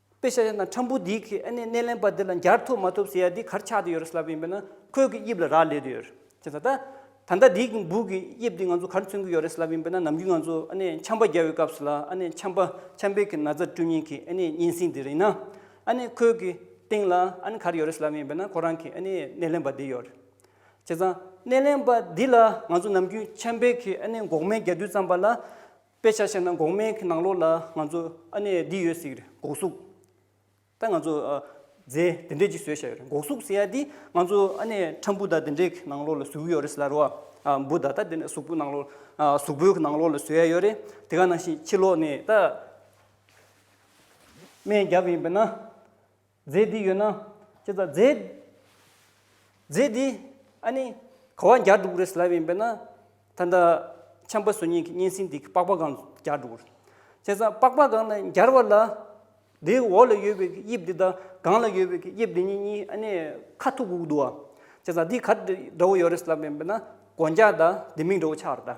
དཔེ་ཤ་ཡ་ན་ཁྲམ་བུ་འདིས་ཁྱེད་ཨ་ནེ་སྣེ་ལེན་པ་འདི་ལ་མཇར་ཐུག་མ་ཐུབ་ཟེར་ཡ་འདི་གར་ཆགས་དུ་ཡོད་རེད་ལབ་ཡིན་པས་ན་ཁོས་ཀྱི་དབྱིབས་ལ་རག་ལས་དུ་ཡོད་ཅེས་ད་ད་ད་ལྟ་འདིའི་ཀྱི་འབུག་གི་དབྱིབས་འདི་ང་ཚོ་གར་མཚོན་གྱི་ཡོད་རེད་ལབ་ཡིན་པས་ན་ནམ་རྒྱུན་ང་ཚོ་ཨ་ནེ་འཆམ་པ་རྒྱག་བའི་སྐབས་སུ་ལ་ཨ་ནེ་འཆམ་པ་འཆམ་པའི་ཀྱི་ན་བཟའ་བཀྲུ་ཉིན་གྱི་ཨ་ནེ་སྙན་སེང་འདི་རེད་ཡིན་ན་ཨ་ནེ་ཁོས་ཀྱི་སྟེང་ལ་ཨ་ནེ་གར་ཡོད་རེད་ལབ་ཡིན་པས་ན་ཁོ་རང་གྱི་ཨ་ནེ་སྣེ་ལེན་པ་འདི་ཡོད་རེད་བྱས་ཙང་སྣེ་ལེན་པ་འདི་ལ་ང་ཚོ་ནམ་རྒྱུན་འཆམ་པའི་ཀྱི་ཨ་ནེ་འགོག་སྨན་རྒྱག་དུས་ཙམ་པ་ལ། དཔེ་ཆ་བཤད་ན་འགོག་སྨན་གྱི་ནང་ལོགས་ལ་ང་ཚོ་ཨ་ནེ་འདི་ཡོད་ཟེར་གི་རེད་འགོག་གཟུགས། ད་ང་ཚོ་རྫས་དེ་འདྲས་ཅིག་བཟོས་བཞག་ཡོད་རེད་འགོག་གཟུགས་ཟེར་ཡ་འདི་ང་ཚོ་ཨ་ནེ་ཁྲ་འབུ་དག་དེ་འདྲས་གི་ནང་ལོགས་ལ་ཟོས་གི་ཡོད་རེད་ཟེར་ལ་རོ། འབུ་དག་ད་དེ་འདྲས་གཟུགས་པོའི་ནང་ལོགས་གཟུགས་པོའི་གི་ནང་ལོགས་ལ་ཟོས་ཡ་ཡོད་རེད་དེ་ག་ནང་བཞིན་ཕྱི་ལོགས་ནས་ད་སྨན་བརྒྱབ་ཡིན་པས་ན། རྫས་འདི་ཡོད་ན། ཅེས་དང། རྫས། རྫས་འདི། ཨ་ནི། གོ་བ་འགྱར་འགྲོ་དགོས་རེད་ཟེར་ལབ་ཡིན་པས་ན། ད་ལྟ། ཆམ་པ་བཟོ་ཉེན་གྱི་གཉན་སྲིན་འདི་གི་པགས་པ་གང་འགྱར་འགྲོ་དགོས། བྱས་ཙང་པགས་པ་གང་ན་འགྱར་བ་ལ། དེའི་འོག་ལ་ཡོད་པའི་གི་དབྱིབས་འདི་དང་གང་ལ་ཡོད་པའི་གི་དབྱིབས་འདི་གཉིས་གཉིས་ཨ་ནི། ཁ་ཐུག་གུག་འདུག་བ། བྱས་ཙང་འདི་ག་འདྲ་བོ་ཡོད་རེད་ཟེར་ལབ་ཡིན་པས་ན། གོ་འགྱར་དང་ལྡེ་མིག་འདྲ་བོ་ཆགས་རེད་ད།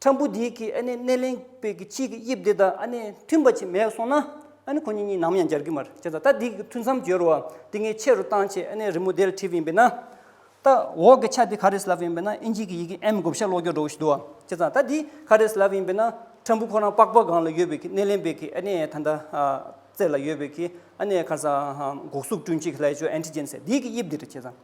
ཁྲམ་བུ་འདི་གིས་ཨ་ནེ་སྣེ་ལེན་པའི་གི་ཕྱིའི་གི་དབྱིབས་འདི་དང་ཨ་ནེ་མཐུན་པ་ཅིག་མེད་སོང་ན། ཨ་ནེ་ཁོ་གཉིས་གཉིས་ནམ་ཡང་འབྱར་གི་མ་རེད་ཅེས་ད་ལྟ་འདི་གི་ཐུན་མཚམས་བརྗོད་རོགས། འདི་ངས་ཆེ་རུ་བཏང་ཆེད་ཨ་ནེ་རི་མོ་དེ་ལ་བྲིས་པ་ཡིན་པས་ན། ད་འོག་གི་ཆ་འདི་ག་རེ་སླབས་ཡིན་པས་ན་ཨིན་ཇིའི་གི་ཡི་གེ་ཨེམ་བགོ་བཤའ་ཀློག་རྒྱུར་འགྲོ་གི་ཞིག་འདུག་བ་ཅེས་ད་ལྟ་འདི་ག་རེ་སླབས་ཡིན་པས་ན། ཁྲམ་བུ་ཁོ་རང་པགས་པ་སྒང་ལ་ཡོད་པའི་གི་སྣེ་ལེན་པའི་གི་ཨ་ནེ་ད་ལྟ་རྩེ་ལ་ཡོད་པའི་གི་ཨ་ནེ་ཁར་ས་འགོག་སུག་བསྐྲུན་ཆེད་གི་ལྷའི་ཆོས Antigens འདི་གི་དབྱིབས་འདི་རེད་ཅེས།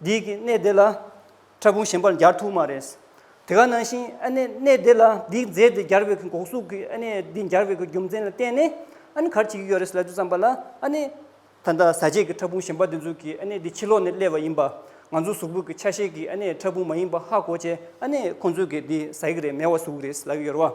འདི་གི་གནས་དེ་ལ་ཕྲ་ཕུང་གཞན་པར་སྦྱར་ཐུག་མ་རེད། དེ་ག་ནང་བཞིན་ཨ་ནེ་གནས་དེ་ལ་འདི་མཛད་དེ་སྦྱར་བའི་འགོག་གཟུགས་ཀྱི་ཨ་ནེ་འདི་སྦྱར་བའི་རྒྱུ་མཚན་ལ་བརྟེན་ནས་ཨ་ནེ་གར་བྱེད་ཀྱི་ཡོད་རེད་ལབ་རྒྱུ་བརྩམས་པ་ལ་ཨ་ནེ། ད་ལྟ་ཟ་བྱེད་ཀྱི་ཕྲ་ཕུང་གཞན་པ་འདི་ཚོ་གི་ཨ་ནེ་འདི་ཕྱི་ལོགས་ནས་སླེབས་པ་ཡིན་པ། ང་ཚོའི་གཟུགས་པོ་གི་ཆ་ཤས་ཀྱི་ཨ་ནེ་ཕྲ་ཕུང་མ་ཡིན་པ་ཧ་གོ་བྱས་ཨ་ནེ་ཁོང་ཚོས་ཀྱི་འདི་ཟ་ཡི་རེད་མེ་བ་ཟུག་རེད་ལབ་ཡོད་རེད་བ།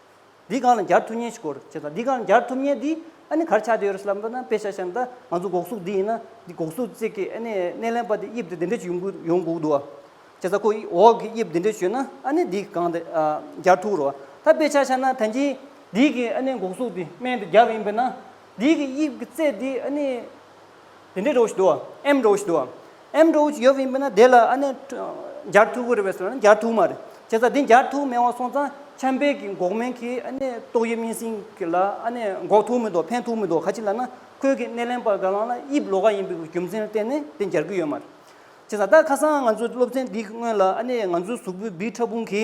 འདི་སྒང་ལ་འགྱར་ཐུབ་ཉེན་ཞིག་གོ། ཅེས་དང། འདི་སྒང་ལ་འགྱར་ཐུབ་ཉེན་འདི་ཨ་ནི་གར་ཆགས་བསྡད་ཡོད་རེད་ཟེར་ལབ་འདོད་ན་དཔེ་ཆ་བཤད་ན་ད་ང་ཚོ་འགོག་སྲུག་འདི་ཡིན་ན་འདི་འགོག་སྲུག་རྩེད་ཀྱི་ཨ་ནི་སྣེ་ལེན་པ་འདི་དབྱིབས་འདི་འདི་འདྲས་ཀྱི་ཡོང་གི་ཡོང་འགོག་འདུག་ཨ། ཅེས་དང་ཁོ་འོག་གི་དབྱིབས་འདི་འདྲས་བྱོས་ན་ཨ་ནི་འདི་སྒང་དེ་འགྱར་ཐུག་རོ། ད་དཔེ་ཆ་བཤད་ན་ད་འདི་འདི་གི་ཨ་ནི་འགོག་སྲུག་འདི་སྨན་འདི་རྒྱབ་ཡིན་པས་ན་འདི་གི་དབྱིབས་ཀྱི་རྩེད་འདི་ཨ་ནི། དེ་འདྲའི་རོགས་ཞིག་འདུག་ཨམ་རོགས་ཞིག་འདུག་ཨམ་རོགས་ཞིག་ཡོད་བས་མིན་ན་དེ་ལ་ཨ་ནེ་འགྱར་ཐུག་གི་རེད་བས་སོ་ན་འགྱར་ཐུག་མ་རེད་བྱས་ཙང་དེ་འགྱར་ཐུག་མེད་བ་སོང་ཙང་ཆམ་པའི་གི་འགོག་སྨན་གི་ཨ་ནེ་ཏོག་དབྱིབས་སྨན་སྲིང་གི་ལ་ཨ་ནེ་འགོག་ཐུག་མི་འདུག་ཕན་ཐུག་མི་འདུག་ག་ཅི་ལ་ན་ཁོས་གི་སྣེ་ལེན་པར་ག་ལང་ལ་དབྱིབས་ལོ་ག་ཡིན་པའི་རྒྱུ་མཚན་ལ་བརྟེན་ནས་དེ་འགྱར་གི་ཡོད་མ་རེད་བྱས་ཙང་ད་ཁ་སང་ང་ཚོའི་སློབ་ཚན་འདི་གི་སྔོན་ལ་ཨ་ནེ་ང་ཚོའི་གཟུགས་པོའི་སྦི་ཕྲ་ཕུང་གི།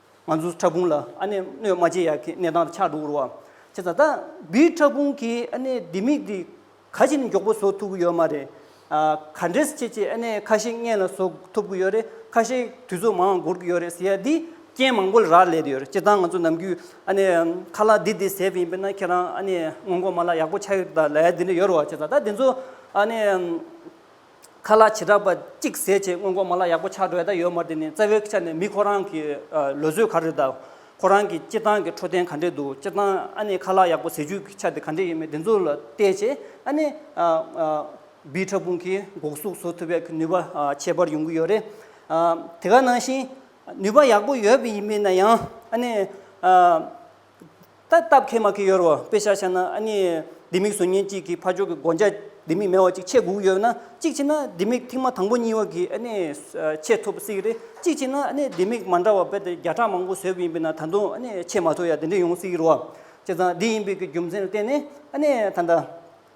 ང་ཚོའི་ཕྲ་ཕུང་ལ་ཨ་ནེ་སྣོད་མ་བྱེད་ཡག་གི་གནས་སྟངས་ཆགས་འདུག་རོ། ཁྱེད་ད་ལྟ་བུའི་ཕྲ་ཕུང་གི་ཨ་ནེ་ལྡེ་མིག་འདི་ག་ཞིག་ནས་མགྱོགས་པོ་བཟོ་ཐུབ་ཀྱི་ཡོད་མ་རེད། ག་འདྲེས་ཁྱེད་ཀྱིས་ཨ་ནེ་ཁ་ཤས་མངལ་ལ་བཟོ་ཐུབ་ཀྱི་ཡོད་རེད་ཁ་ཤས་དུས་ཚོད་མང་འགོར་གྱི་ཡོད་རེད་ཟེར་ཡ་འདིས་རྐྱེན་མང་པོ་ལ་རག་ལས་ཀྱི་ཡོད་རེད་སྤྱིར་བཏང་ང་ཚོ་ནམ་རྒྱུན་ཨ་ནེ་ཁ་ལག་འདི་འདི་ཟེར་བ་ཡིན་པས་ན་ཁྱེད་རང་ཨ་ནེ་སྔོན་འགོག་མ་ལག་ཡག་པོ་ཆགས་ཡོད་ལ་ཡ་འདི་འདྲ་ཡོད་རེད་བ་ཁྱེད་ད་ལྟ་དེ་ཚོ་ཨ་ནེ། ཁ་ལག་བྱེ་བྲག་པ་གཅིག་ཟས་བཅད་སྔོན་འགོག་མ་ལག་ཡག་པོ་ཆགས་འགྲོ་ཡ་ད་ཡོད་མ་དེ་ནི་རྩ་བའི་ཆ་ནས་མི་ཁོ་རང་གི་ལོ་ཚོད་ག་རེ་དང། ཁོ་རང་གི་སྤྱི་བཏང་གི་འཕྲོད་བསྟེན་ག་འདྲས་འདུག་སྤྱི་བཏང་ཨ་ནི་ཁ་ལག་ཡག་པོ་ཟས་བཅུད་ཀྱི་ཆ་དེ་ག་འདྲས་ཡིན་མིན་དེ་ཚོ་ལ་བལྟས་ཆེ་ཨ་ནི། བིའི་ཕྲ་ཕུང་གིས་འགོག་སྲུག་བཟོ་ཐུབ་པའི་ནུས་པ་ཁྱད་པར་ཡོང་གི་ཡོད་རེད། དེ་ག་ནང་བཞིན་ནུས་པ་ཡག་པོ་ཡོད་པ་ཡིན་མིན་ན་ཡང་ཨ་ནི། ད་ལྟ་སྟབས་ཁེ་མ་ཁེ་ཡོད་རོ་དཔེ་ཤར་ཤར་ན་ཨ་ནི་ལྡེ་མིག་བཟོ་ཉེན་གཅིག་གིས་ཕ་ཅོག་གི་དགོན་བརྒྱ་ལྡེ་མིག་མེ་བ་གཅིག་ཆད་སྒུག་ཡོད་ན་གཅིག་བྱས་ན་ལྡེ་མིག་ཐིག་མ་དང་པོ་གཉིས་བ་གིས་ཨ་ནི་ཆད་ཐུབ་སྲིད་རེད་གཅིག་བྱས་ན་ཨ་ནི་ལྡེ་མིག་མ་འདྲ་བ་དཔེ་དེབ་བརྒྱ་ཕྲག་མང་པོ་བཟོས་པ་ཡིན་པས་ན་ད་དུང་ཨ་ནི་ཆད་མ་ཐུབ་ཡ་དེ་འདྲས་ཡོང་སྲིད་རོ་བྱས་ཙང་འདི་ཡིན་པའི་གི་རྒྱུ་མཚན་ལ་བརྟེན་ནས་ཨ་ནི་ད་ལྟ།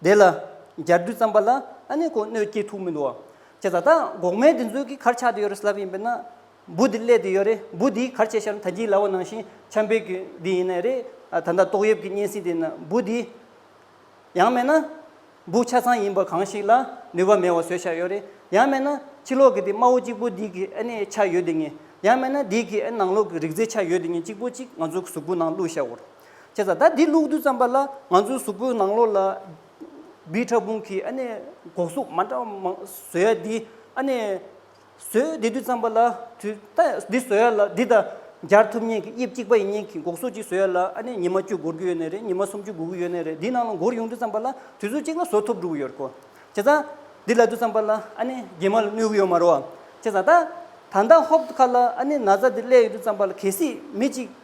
དེ་ལ་རྒྱར་བསྡུས་བརྩམས་པ་ལ་ཨ་ནི་ཀོ་གནོད་སྐྱེལ་ཐུག་མི་འདུག་ཅེས་བྱ་ད་འགོག་མེད་དེ་ཚོའི་གི་གར་ཆགས་དེ་ཡོད་རེད་ཟེར་ལབ་ཡིན་པས་ན་འབུ་དེ་ཀླད་དེ་ཡོད་རེད་འབུ་དེའི་གར་བྱས་ཤར་ད་གྱིས་ལ་བ་ནང་བཞིན་ཆམ་པའི་གི་དེ་ཡིན་ནའི་རེད་ད་ད་ཏོག་ཡབ་ཀྱི་སྙན་སིང་དེ་ན་འབུ་དེ་ཡང་མེད་ན་འབུ་ཆ་ཚང་ཡིན་པ་གང་ཞིག་ལ་ནུས་པ་མེད་བ་བཟོས་ཤར་ཡོད་རེད་ཡང་མེད་ན་ཕྱི་ལོག་གི་དེ་དམར་བོ་གཅིག་པོ་དེའི་གི་ཨ་ནི་ཆ་ཡོད་དེ་ངེས་ཡང་མེད་ན་དེའི་གི་ཨ་ནི་ནང་ལོག་གི་རིག་རྩལ་ཆ་ཡོད་དེ་ངེས་གཅིག་པོ་གཅིག་ང་ཚོའི་གི་གཟུགས་པོ་ནང་བླུགས་ཤར་འོར། ཁྱེད་ཅག་ད་འདི་ལུགས་བསྡུས་ཙམ་པ་ལ་ང་ཚོའི་གཟུགས་པོའི་ནང་ལོགས་ལ་སྦིས་ཕྲ་ཕུང་གི་ཨ་ནེ་སྒོག་གཟུགས་མ་འདྲ་མང་བཟོས་ཡ་འདི་ཨ་ནེ་བཟོས་འདི་བསྡུས་ཙམ་པ་ལ་དུས་ད་འདི་བཟོས་ཡ་ལ་འདི་ད་སྦྱར་ཐུབ་ཉེན་གི་དབྱིབས་གཅིག་པ་ཡིན་ཉེན་གི་སྒོག་གཟུགས་གཅིག་བཟོས་ཡ་ལ་ཨ་ནེ་ཉི་མ་བཅུ་འགོར་གྱི་ཡོད་ནི་རེད་ཉི་མ་སུམ་ཅུ་འགོར་གྱི་ཡོད་ནི་རེད་འདི་ནང་ལ་འགོར་ཡོང་དུས་ཙམ་པ་ལ་དུས་ཚོད་གཅིག་ལ་བཟོ་ཐུབ་འགྲོ་གི་ཡོད་རེད་ཁོ་ཁྱེད་ཅག་འདི་ལ་བསྡུས་ཙམ་པ་ལ་ཨ་ནེ་རྒྱལ་མ་ལ་གནོད་གི་ཡོད་མ་རོ་ཨ་ཁྱེད་ཅག་ད་ད་ལྟ་ཧོབ་ཁ་ལ་ཨ་ནེ་ན་བཟའ་འདི་བསླས་ཡོད་དུས་ཙམ་པ་ལ་གལ་སྲིད་མི་གཅིག།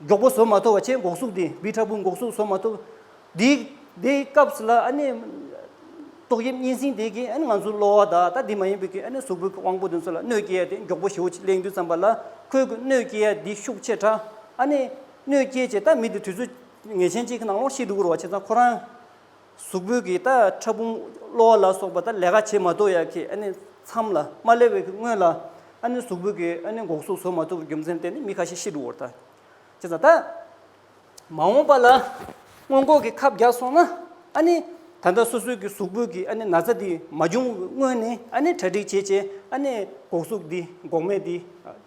མགྱོགས་པོ་བཟོ་མ་ཐུབ་བ་ཆེས་འགོག་སྲུག་དེ་བི་ཁྲ་བུ་འགོག་སྲུག་བཟོ་མ་ཐུབ། དེའི་དེའི་སྐབས་ལ་ཨ་ནི། ཏོག་དབྱིབས་གཉན་སྲིན་དེ་གིས་ཨ་ནི་ང་ཚོའི་གློ་བ་དང་ད་དེ་མ་ཡིན་པའི་ཨ་ནི་གཟུགས་པོའི་དབང་པོ་དེ་ཚོ་ལ་གནོད་སྐྱེལ་ཡ་དེ་མགྱོགས་པོ་ཞེའུ་ཆེ་གླེང་དུས་བརྩམས་པ་ལ་ཁོས་གི་གནོད་སྐྱེལ་ཡ་དེ་ཤུགས་ཆེ་དྲགས་ཨ་ནི་གནོད་སྐྱེལ་བྱས་ད་མི་དེ་དུས་ཚོད་ངེས་ཅན་གཅིག་གི་ནང་ལོངས་ཤིག་འདུག་རུ་བ་ཆེ་ཚང་ཁོ་རང། གཟུགས་པོ་གི་ད་ཕྲ་ཕུང་གློ་བ་ལ་སོགས་པ་ད་ལས་ཀ་བྱེད་མ་ཐུབ་ཡ་གི་ཨ་ནི་མཚམས་ལ་མ་སླེབས་བའི་སྔོན་ལ་ཨ་ནི་གཟུགས་པོ་གི་ཨ་ནི་འགོག་སྲུང་བཟོ་མ་ཐུབ་པའི་རྒྱུ་མཚན་དེ་ནི་མི་ཁ་ཤས་ཤི་འགྲོ་བར་ཐལ། ཅེས་དང། ད་མ་འོངས་པ་ལ་སྔོན་འགོག་གི་ཁབ་རྒྱག་སོང་ན་ཨ་ནི་ད་ལྟ་སོ་སོའི་གི་གཟུགས་པོ་གི་ཨ་ནི་ན་ཚ་འདི་མ་འབྱུང་བའི་སྔོན་ནས་ཨ་ནི་གྲ་སྒྲིག་བྱས་བྱས་ཨ་ནི་འགོག་སྲུག་འདི་འགོག་སྨན་འདི་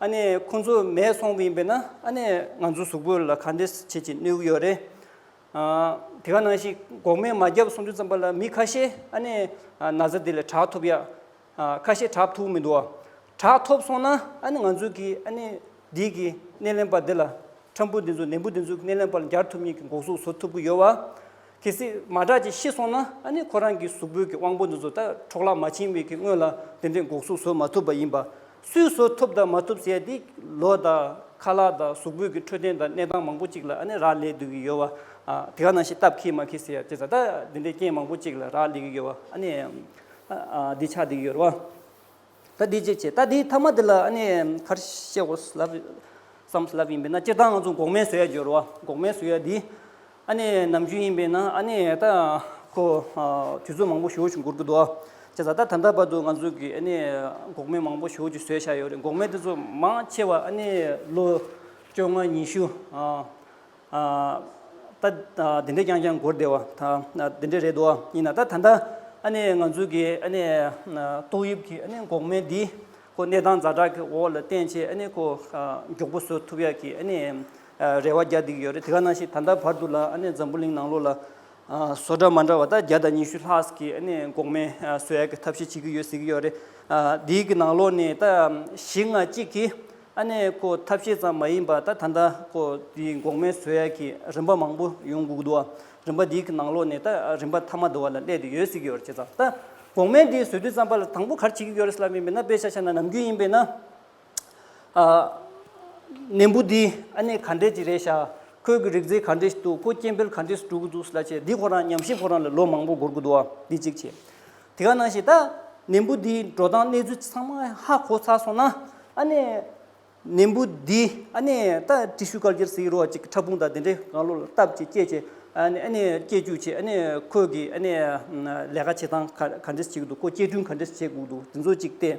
ཨ་ནེ་ཁོ་ཚོ་མེད་སོང་བ་ཡིན་པས་ན་ཨ་ནེ་ང་ཚོའི་གཟུགས་པོ་ལ་ག་འདྲས་བྱེད་ཅེས་གནོད་ཀྱི་ཡོད་རེད། དེ་ག་ནང་བཞིན་འགོག་སྨན་མ་བརྒྱབ་སོང་དུས་ཙམ་པ་ལ་མི་ཁ་ཤས་ཨ་ནེ་ན་ཚ་འདི་ལས་དྲག་ཐུབ་ཡ། ཁ་ཤས་དྲག་ཐུབ་མི་འདུག་ཨ། དྲག་ཐོབ་སོང་ན་ཨ་ནི་ང་ཚོས་ཀྱི་ཨ་ནེ་འདི་གི་སྣེ་ལེན་པ་འདི་ལ་ཁྲམ་བུ་འདི་ཚོ་ནན་པོ་འདི་ཚོའི་སྣེ་ལེན་པ་ལ་འགྱར་ཐུབ་ཉེས་ཀྱི་འགོག་གཟུགས་བཟོ་ཐུབ་ཀྱི་ཡོད་བ། གལ་སྲིད་མ་དྲག་ཅིག་ཤི་སོང་ན་ཨ་ནེ་ཁོ་རང་གི་གཟུགས་པོའི་གི་དབང་པོ་འདི་ཚོ་ད་འཕྲོག་བརླག་མ་བྱིན་བའི་གི་སྔོན་ལ་འདི་འདྲའི་འགོག་གཟུགས་བཟོ་མ་ཐུབ་པ་ཡིན་པ། སུས་བཟོ་ཐུབ་དང་མ་ཐུབ་བྱས་ཏེ་ལོ་དང་ཁ་ལག་དང་གཟུགས་པོད་ཀྱི་འཕྲོད་བསྟེན་དང་གནས་སྟངས་མང་པོ་གཅིག་ལ་ཨ་ནི་རག་ལས་སྡོད་ཀྱི་ཡོད་བ། དེ་ག་ནང་བཞིན་སྟབས་ཁེ་མ་ཁེ་ཟེར་ཡ་ཅེ་ཟ་ད་འདི་འདྲའི་རྐྱེན་མང་པོ་གཅིག་ལ་རག་ལས་ཀྱི་ཡོད་བ་ཨ་ནི། འདི་ཆགས་འདི་ཡོད་རེད་བ། ད་འདི་ཅིག་བྱེད་ད་འདིའི་ཐ་མ་འདི་ལ་ཨ་ནི་ཁར་ཤེ་ཧོ་སི་ལབ། བསམ་སི་ལབ་ཡིན་པས་ན་སྤྱིར་བཏང་ང་ཚོ་འགོག་སྨན་བཟོ་ཡ་ཡོད་རེད་བ་འགོག་སྨན་བཟོ་ཡ་འདིས། ཨ་ནེ་ནམ་རྒྱུན་ཡིན་པས་ན་ཨ་ནེ་ཡ་ད་ཁོ། དུས་ཚོད་མང་པོ་ཞོ་ཞུ་འགོར་གྱི་འདུག་བྱས་ཙང་ད་ད་ལྟ་བར་དུ་ང་ཚོ་གིས་ཨ་ནེ་འགོག་མེད་མང་པོ་ཞོ་ཞུ་བཟོས་བཞག་ཡོད་རེད་འགོག་མེད་དེ་ཚོ་མང་ཆེ་བ་ཨ་ནེ་ལོ་བཅོ་ལྔ་ཉི་ཤུ། ད་དེ་འདྲས་རྐྱང་རྐྱང་འགོར་བསྡད་བ་དེ་འདྲས་རེད་འདུག་ཡིན་ན་ད་ད་ལྟ་ཨ་ནེ་ང་ཚོ་གིས་ཨ་ནེ་ཏོག་དབྱིབས་ཀྱི་ཨ་ནེ་འགོག་མེད་འདི་ཁོ་གནས་སྟངས་འཛའ་དྲག་གི་འོག་ལ་བརྟེན་ཆེད་ཨ་ནེ་ཁོ་མགྱོགས་པོ་བཟོ་ཐུབ་ཡག་གི་ཨ་ནེ། རེ་བ་བརྒྱ་བསྡིགས་ཡོད་རེད་དེ་ག་ནང་བཞིན་ད་ལྟ་བར་དུ་ལ་ཨ་ནེ་འཛམ་བུ་གླིང་ནང་ལོགས་ལ་བཟོ་གྲྭ་མ་འདྲ་བ་དག་བརྒྱ་དང་ཉི་ཤུ་ལྷག་གིས་ཨ་ནེ་འགོག་མེད་བཟོ་ཡག་གི་ཐབས་ཤེས་བྱེད་ཀྱི་ཡོད་ཟེར་གྱི་ཡོད་རེད། དེའི་གི་ནང་ལོགས་ནས་ད་གཞི་ང་གཅིག་གིས་ཨ་ནེ་ཁོ་ཐབས་ཤེས་ཙམ་མ་ཡིན་པ་ད་ད་ལྟ་ཁོ་དེའི་འགོག་མེད་བཟོ་ཡག་གི་རིམ་པ་མང་པོ་ཡོང་སྒུག་འདུག་བ་རིམ་པ་དེའི་གི་ནང་ལོགས་ནས་ད་རིམ་པ་ཐ་མ་འདུག་བ་ལ་སླད་དུ་ཡོད་ཟེར་གྱི་ཡོད་རེད་བྱས་ཙང་ད་འགོག་མེད་དེའི་བཟོས་དུས་ཙམ་པ་ལ་དང་པོ་གར་བྱེད་ཀྱི་ཡོད་རེད་ལབ་ཡིན་པས་ན་དཔེ་ཆ་ཆ་ན་ནམ་རྒྱུན་ཡིན་པས་ན། ནད་འབུ་འདི་ཨ་ནེ་ག་འདྲས་ཀྱི་རེད་ཤག་ཁོས་ཀྱི་རིག་རྫས་ག་འདྲས་ཤིག་འདུག་ཁོ་སྐྱེ་འཕེལ་ག་འདྲས་སུ་གྲུབ་ཀྱི་འདུག་སླ་ཆད་འདི་ཁོ་རང་ཉམས་ཞིབ་ཁོ་རང་ལ་ལོ་མང་པོ་འགོར་གྱི་འདུག་ཨ་འདི་གཅིག་བྱས་དེ་ག་གནང་ཞིག་ད་ནད་འབུ་འདིའི་འགྲོ་སྟངས་གནས་ཚུལ་ཚང་མ་ཧ་གོ་ཚར་སོང་ན་ཨ་ནེ། ནད་འབུ་འདི་ཨ་ནེ་ད་ཏྲི་ཤུ་དཀར་གྱེར་ཟེར་གྱི་རོ་གཅིག་ཕྲ་ཕུང་དང་དེ་འདྲས་གང་བླུགས་ལ་བཏབ་ཅིག་སྐྱེས་ཅིག་ཨ་ནེ་ཨ་ནེ་སྐྱེས་རྒྱུགས་བྱས་ཨ་ནེ་ཁོས་ཀྱི་ཨ་ནེ་ལས་ཀ་བྱེད་སྟངས་ག་འདྲས་སུ་བྱེད་ཀྱི་འདུག་ཁོ་སྐྱེ་སྐྲུན་ག་འདྲས་སུ་བྱེད་དགོས་ཀྱི་འདུག་དེ་ཚོ་གཅིག་བལྟས།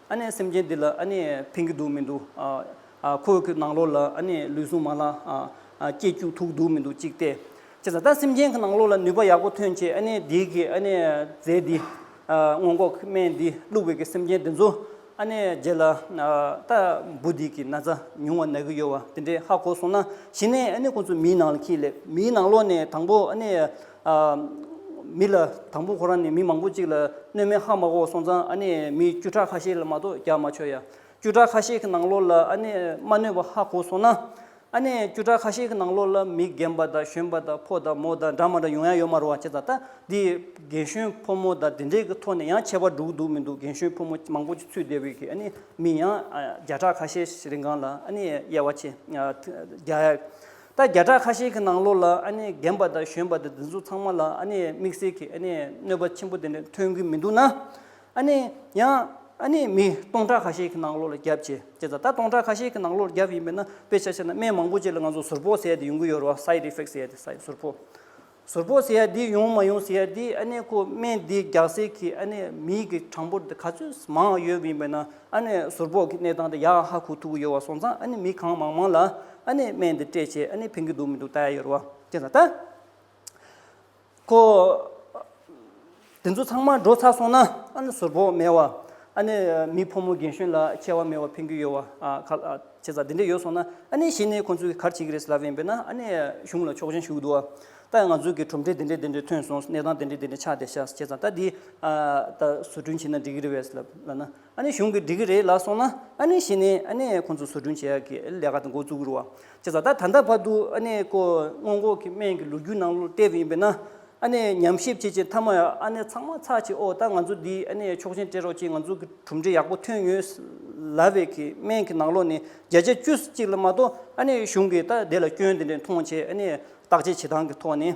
ཨ་ནེ་སེམས་ཅན་འདི་ལ་ཨ་ནེ་ཕན་གྱི་འདུག་མི་འདུག་ཨ། ཁོ་གི་ནང་ལོགས་ལ་ཨ་ནེ་ལུས་ཟུངས་མ་ལ་ཨ། སྐྱེ་རྒྱུགས་ཐུག་འདུག་མི་འདུག་གཅིག་སྟེ། ཅེས་ལ་ད་སེམས་ཅན་གྱི་ནང་ལོགས་ལ་ནུས་པ་ཡག་པོ་ཐོན་ཆེད་ཨ་ནེ་འདི་གིས་ཨ་ནེ་རྫས་འདི། སྔོན་འགོག་གི་སྨན་འདི་བླུགས་པའི་གི་སེམས་ཅན་འདི་ཚོ་ཨ་ནེ་རྗེས་ལ་ད་འབུ་འདི་གི་ན་ཚ་ཉུང་བ་ན་གི་ཡོད་བ་འདི་འདྲའི་ཧ་གོ་སོང་ན་གཞི་ནས་ཨ་ནེ་ཁོ་ཚོ་མིའི་ནང་ལ་ཁྱི་ལས་མིའི་ནང་ལོགས་ནས་དང་པོ་ཨ་ནེ། མི་ལ་དང་པོ་ཁོ་རང་ནས་མི་མང་པོ་གཅིག་ལ་སྣོད་མེད་ཧ་མ་གོ་སོང་ཙང་ཨ་ནི་མི་བཅུ་ཕྲག་ཁ་ཤས་ལ་མ་གཏོགས་རྒྱག་མ་ཆོག་ཡ། བཅུ་ཕྲག་ཁ་ཤས་ཀྱི་ནང་ལོགས་ལ་ཨ་ནི་མ་སྣོད་པ་ཧ་གོ་སོང་ན། ཨ་ནི་བཅུ་ཕྲག་ཁ་ཤས་ཀྱི་ནང་ལོགས་ལ་མི་རྒན་པ་དང་གཞོན་པ་དང་ཕོ་དང་མོ་དང་འདྲ་མ་འདྲ་ཡོང་ཡ་ཡོད་མ་རོ་བ་བྱས་ད་ད་འདི་རྒན་གཞོན་ཕོ་མོ་དང་འདི་འདྲས་ཀྱི་ཐོག་ནས་ཡང་ཁྱད་པར་འགྲུག་འདུག་མི་འདུག་རྒན་གཞོན་ཕོ་མོ་མང་པོ་ཅིག་ཚུད་བསྡད་བོད་ཀྱི་ཨ་ནི་མི་ཡང་བརྒྱ་ཕྲག་ཁ་ཤས་རིང་གང་ལ་ཨ་ནི་དབྱེ་བ་ཕྱེ་རྒྱག་ཡ། རྟ་བརྒྱ་ཕྲག་ཁ་ཤས་ཀྱི་ནང་ལོགས་ལ་ཨ་ནི་རྒན་པ་དང་གཞོན་པ་དེ་འདི་ཚོ་ཚང་མ་ལ་ཨ་ནི་དམིགས་བསལ་གྱི་ཨ་ནི་གནོད་པ་ཆེན་པོ་དེ་འདྲ་ཐོན་གྱི་མི་འདུག་ན། ཨ་ནི་ཡང་ཨ་ནི་མི་སྟོང་ཕྲག་ཁ་ཤས་ཀྱི་ནང་ལོགས་ལ་བརྒྱབ་ཅེས་བྱས་ཙང་ད་སྟོང་ཕྲག་ཁ་ཤས་ཀྱི་ནང་ལོགས་ལ་བརྒྱབ་ཡིན་པས་ན་དཔེ་ཆ་ཆ་ནས་སྨན་མང་པོ་བཅས་ལ་ང་ཚོ་ཟུར་ཕོག་བཟས་དེ་ཡོང་གི་ཡོད་རེད་བ side effects ཟས་དེ་སའི་ཟུར་ཕོག། ཟུར་པོ་ཟེར་ཡ་འདི་ཡོང་མ་ཡོང་ཟེར་ཡ་འདི་ཨ་ནེ་ཁོ་སྨན་འདི་རྒྱག་སའི་ཁྱི་ཨ་ནེ་མིའི་གི་གྲངས་འབོར་འདི་ག་ཚོད་མང་ཡོད་ཡིན་པས་ན་ཨ་ནེ་ཟུར་པོ་གི་གནས་སྟངས་འདི་ཡག་ཧ་གོ་ཐུབ་ཀི་ཡོད་བ་སོང་ཙང་ཨ་ནེ་མི་གང་མང་མང་ལ་ཨ་ནེ་སྨན་འདི་སྤྲད་ཆེད་ཨ་ནེ་ཕན་གི་འདུག་མི་འདུག་ལྟ་ཡ་ཡོད་རེད་བ། ཅེས་ད་ལྟ། ཁོ། དེ་ཚོ་ཚང་མ་འགྲོ་ཚར་སོང་ན་ཨ་ནི་ཟུར་བོ་མེད་བ། ཨ་ནི་མི་ཕོ་མོ་རྒན་གཞོན་ལ་ཁྱད་བ་མེད་བ་ཕན་རྒྱུ་ཡོད་བ། ཁ་ལྕེ་ཚ་དེ་འདྲས་ཡོད་སོང་ན་ཨ་ནི་གཞི་ནས་ཁོང་ཚོའི་གར་བྱེད་ཀྱི་རེད་ཟེར་ལབ་ཡིན་པས་ན་ཨ་ནི་གཞུང་ལ་ཆོག་མཆན་ཞུ་གི་འདུག་ཨ། ད་ང་ཚོའི་གི་གྲུབ་འབྲས་དེ་འདྲས་དེ་འདྲས་ཐོན་སོང་གནས་སྟངས་དེ་འདྲས་དེ་འདྲས་ཆགས་བསྡད་ཤག་ཁྱེད་ཚང་ད་འདི་ད་བཟོ་སྐྲུན་བྱས་ན་འགྲིག་གི་རེད་བས་ལབ་ལབ་ན་ཨ་ནི་གཞུང་གིས་འགྲིག་གི་རེད་ལབ་སོང་ན་ཨ་ནི་གཞི་ནས་ཨ་ནི་ཁོང་ཚོ་བཟོ་སྐྲུན་བྱེད་ཡག་གི་ལས་ཀ་དེ་འགོ་བཙུགས་གི་རུ་བ། བྱས་ཙང་ད་ད་ལྟ་བར་དུ་ཨ་ནེ་ཀོ་སྔོན་འགོག་གི་སྨན་གྱི་ལོ་རྒྱུས་ནང་ལོ་བལྟས་པ་ཡིན་པས་ན། ཨ་ནེ་ཉམས་ཞིབ་བྱེད་བྱེད་མཐའ་མ་ཡང་ཨ་ནེ་ཚང་མ་ཚགས་ཆེ་ཨོ་ད་ང་ཚོ་འདི་ཨ་ནེ་ཆོག་མཆན་སྤྲད་རོགས་ཀྱིས་ང་ཚོ་གི་གྲུབ་འབྲས་ཡག་པོ་ཐོན་ཡོད། ལ་བས་གི་སྨན་གྱི་ནང་ལོ་ནི་བརྒྱ་ཆ་བཅུ་གཅིག་ལ་མ་གཏོགས་ཨ་ནེ་གཞུང་གིས་ད་དེ་ལ་སྐྱོན་དེ་འདྲའི་མཐོང་བྱས་ཨ་ནེ་བརྟག་དཔྱད་བྱེད་སྟངས་ཀྱི་ཐོག་ནས་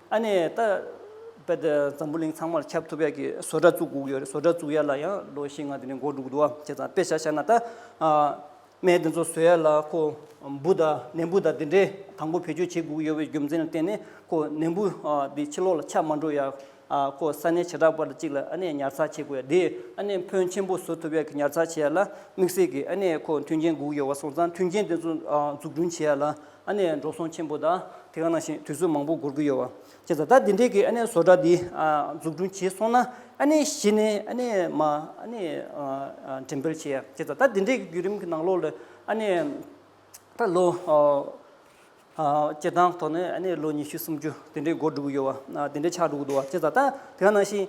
ཨ་ནེ། ད་དཔལ་ལྡན་འཛམ་བུ་གླིང་ཚང་མར་ཁྱབ་ཐུབ་ཡག་གི་བཟོ་གྲྭ་བཙུགས་དགོས་ཀྱི་ཡོད་རེད་བཟོ་གྲྭ་བཙུགས་ཡག་ལ་ཡང་ལོ་བཞི་ལྔ་དེ་ནས་མགོ་འགྲུག་འདུག་བ་ཁྱེད་ཚང་དཔེ་ཆ་ཤར་ན་ད་སྨན་དེ་ཚོ་བཟོ་ཡག་ལ་ཁོ་འབུ་དང་ནད་འབུ་དང་དེ་འདྲའི་དང་པོ་བེད་སྤྱོད་བྱེད་དགོས་ཀྱི་ཡོད་བའི་རྒྱུ་མཚན་ལ་བརྟེན་ནས་ཁོ་ནད་འབུ་དེ་ཕྱི་ལོག་ལ་ཆགས་མ་འགྲོ་ཡག་ཁོ་ས་གནས་བྱེ་བྲག་པར་གཅིག་ལ་ཨ་ནེ་ཉར་ཚགས་བྱེད་དགོས་ཡག་དེ་ཨ་ནེ་ཕོན་ཆེན་པོ་བཟོ་ཐུབ་ཡག་གི་ཉར་ཚགས་བྱེད་ཡག་ལ་དམིགས་བསལ་གྱི་ཨ་ནེ་ཁོ་མཐུན་རྐྱེན་དགོས་ཀྱི་ཡོད་བ་སོང་ཙང་མཐུན་རྐྱེན་དེ་ཚོ་འཛུགས་སྐྲུན་བྱེད་ཡག་ལ། ཨ་ནེ་འགྲོ་སོང་ཆེན་པོ་དང་དེ་ག་ནང་བཞིན་དུས་ཚོད་མང་པོ་འགོར་གྱི་ཡོད་བ། ཁྱེད་ཚོ་ད་དེ་འདྲའི་གི་ཨ་ནེ་བཟོ་གྲྭ་འདི་འཛུགས་སྐྲུན་བྱས་སོང་ན་ཨ་ནེ་གཞི་ནས་ཨ་ནེ་མ་ཨ་ནེ་འགྲེམས་སྤེལ་བྱས་ཡ། ཁྱེད་ཚོ་ད་དེ་འདྲའི་གི་བརྒྱུད་རིམ་གི་ནང་ལོགས་ལ་ཨ་ནེ་ད་ལོ་སྤྱི་བཏང་ཐོག་ནས་ཨ་ནེ་ལོ་ཉི་ཤུ་སུམ་ཅུ་དེ་འདྲའི་འགོར་འགྲོ་གི་ཡོད་བ། དེ་འདྲའི་ཆགས་འགྲོ་གི་འདུག་བ། ཁྱེད་ཚོ་ད་དེ་ག་ནང་བཞིན།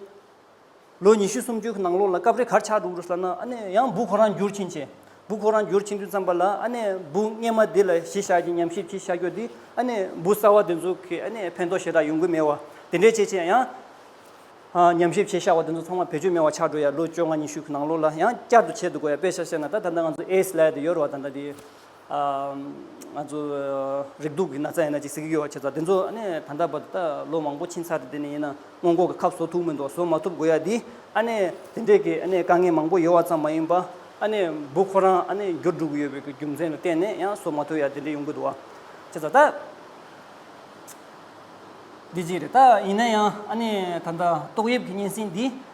ལོ་ཉི་ཤུ་སུམ་ཅུ་གི་ནང་ལོགས་ལ་སྐབས་རེ་གར་ཆག་འདུག་རུ་ས་ན་ཨ་ནེ་ཡང་སྦུག་ཁོ་རང་འགྱུར་ཕྱིན་ཆེ། སྦུག་ཁོ་རང་འགྱུར་ཕྱིན་དུས་མཚམས་པ་ལ་ཨ་ནེ་སྦུག་སྙེ་མ་འདི་ལ་གཞི་བཞག་ཅིང་ཉམས་ཞིབ་ཀྱིས་ཤ་ཁྱོ་འདི་ཨ་ནེ་སྦུག་གསར་བ་འདི་ཚོ་གི་ཨ་ནེ་ཕན་ཐོགས་ཞེ་དྲག་ཡོང་གི་མེད་བ་དེ་འདྲའི་ཆེ་ཆེ་ཡང། ཉམས་ཞིབ་བྱས་ཤག་བ་འདི་ཚོ་ཚང་མ་བེད་སྤྱོད་མེད་བ་ཆགས་འགྲོ་ཡ་ལོ་བཅོ་ལྔ་ཉི་ཤུ་གི་ནང་ལོགས་ལ་ཡང་བསྐྱར་དུ་བྱེད་འདུག་གོ་ཡ་དཔེ་ཆ་བཤད་ན་ད་ད་ལྟ་ང་ཚོ་ཨེས་ལད་དུ་ཡོད་རུ་བ་ད་ད་དེ་ང་ཚོ་རིགས་དུག་གི་ན་ཚ་ཡིན་ན་ཅིག་ཟེར་གྱི་ཡོད་བ་ཁྱེད་ཚོ་དེ་ཚོ་ཨ་ནས་ད་ལྟ་བར་དུ་ད་ལོ་མང་པོ་ཕྱིན་ཚར་དེ་དེ་ནས་ཡིན་ན་སྔོན་འགོག་གི་ཁབ་བཟོ་ཐུབ་མི་འདུག་བཟོ་མ་ཐུབ་དགོས་ཡ་དེ་ཨ་ནས་དེ་འདྲས་ཀྱི་ཨ་ནས་དཀའ་ངལ་མང་པོ་ཡོད་བ་ཙམ་མ་ཡིན་པ་ཨ་ནས་འབུ་ཁོ་རང་ཨ་ནས་འགྱུར་འགྲོ་གི་ཡོད་པའི་གི་རྒྱུ་མཚན་ལ་བརྟེན་ནས་ཡང་བཟོ་མ་ཐུབ་ཡ་དེ་འདྲས་ཡོང་གི་འདུག་བ་ཁྱེད་ཚོ་ད་འདི་གཅིག་རེད་ད་ཡིན་ན་ཡང་ཨ་ནས་ད་ལྟ་ཏོག་དབྱིབས་ཀྱི་གཉན་སྲིན་འདི།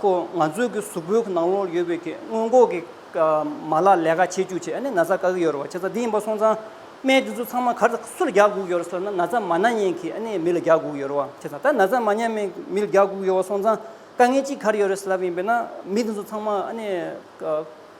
ཁོ་ང་ཚོའི་གི་གཟུགས་པོའི་གི་ནང་ལོགས་ཡོད་པའི་གི་སྔོན་འགོག་གི་མ་ལག་ལས་ཀ་བྱེད་འཇུག་ཆེད་ནས་ན་ཚ་བཀག་གི་ཡོད་རེད་བ་ཁྱེད་ཚ་འདི་ཡིན་པ་སོང་ཙང་སྨན་དེ་ཚོ་ཚང་མ་གར་སུ་ལ་རྒྱག་དགོས་ཡོད་རེད་ཟེར་ན་ན་ཚ་མ་ན་ཉན་གི་མི་ལ་རྒྱག་དགོས་ཡོད་རེད་བ་ཁྱེད་ཚ་ད་ན་ཚ་མ་ཉན་མི་མི་ལ་རྒྱག་དགོས་ཡོད་བ་སོང་ཙང་དཀའ་ངལ་ཅི་གར་ཡོད་རེད་ཟེར་ལབ་ཡིན་པས་ན་མི་དེ་ཚོ་ཚང་མ་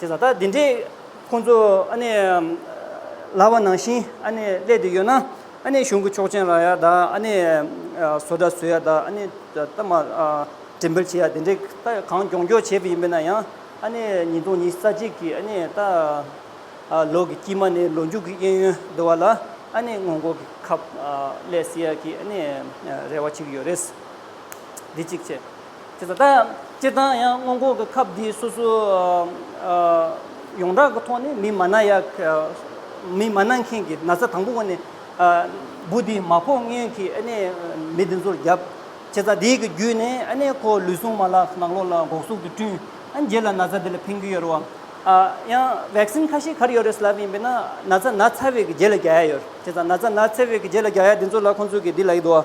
དེ་ལ་ད་འདི་འདྲས་ཁོང་ཚོ་ཨ་ནི་ལྭ་བ་ནང་བཞིན་ཨ་ནི་སླེད་དེ་ཡོད་ན་ཨ་ནི་གཞུང་གི་ཆོག་མཆན་ལ་ཡ་ད་ཨ་ནི་བཟོ་འདྲ་བཟོས་ཡ་ད་ཨ་ནི་གཏའ་མ་དྲན་འབུལ་བྱས་ཡ་དེ་འདྲས་གཏའ་གང་གྱོང་གྱོང་བྱས་པ་ཡིན་པས་ན་ཡང་ཨ་ནི་ཉིས་སྟོང་ཉིས་ས་གཅིག་གི་ཨ་ནི་ད་ལོ་གི་དཀྱིལ་མ་ནས་ལོ་མཇུག་གི་གཡས་གཡོན་དུ་བ་ལ་ཨ་ནི་སྔོན་འགོག་གི་ཁབ་སླེད་སྲིད་ཡ་གི་ཨ་ནི་རེ་བ་ཅིག་ཡོད་རེད། འདི་གཅིག་བྱས། དེ་ལྟ་སྟེ། དེ་ལྟ་ཡང་སྔོན་འགོག་གི་ཁབ་འདི་སོ་སོ་ཡོངས་གྲགས་ཀྱི་ཐོག་ནས་མི་མ་ན་ཡ། མི་མ་ན་མཁན་གྱི་ན་ཚ་དང་པོ་བ་ནི། བུ་འདི་མ་ཕོག་སྔོན་གྱི་མི་འདི་ཚོར་བརྒྱབ། བྱས་ཙང་དེའི་བརྒྱུད་ནས་ཁོ་ལུས་ཟུངས་མ་ལག་ནག་ལོ་ལ་འགོག་སྲུང་དུ་བསྐྲུན། རྗེས་ལ་ན་ཚ་འདི་ལ་ཕན་རྒྱུ་ཡོད་རུང། ཡང Vaccine ཁ་ཤས་གར་ཡོད་རེད་ལབ་ཡིན་པས་ན་ན་ཚ་ན་ཚ་བས་ཀྱི་རྗེས་ལ་རྒྱ་ཡ་ཡོད། བྱས་ཙང་ན་ཚ་ན་ཚ་བས་ཀྱི་རྗེས་ལ་རྒྱ་ཡ་འདི་ཚོ་ལ་ཁོང་ཚོས་ཀྱི་འདི་ལ་ཡིད་དོ།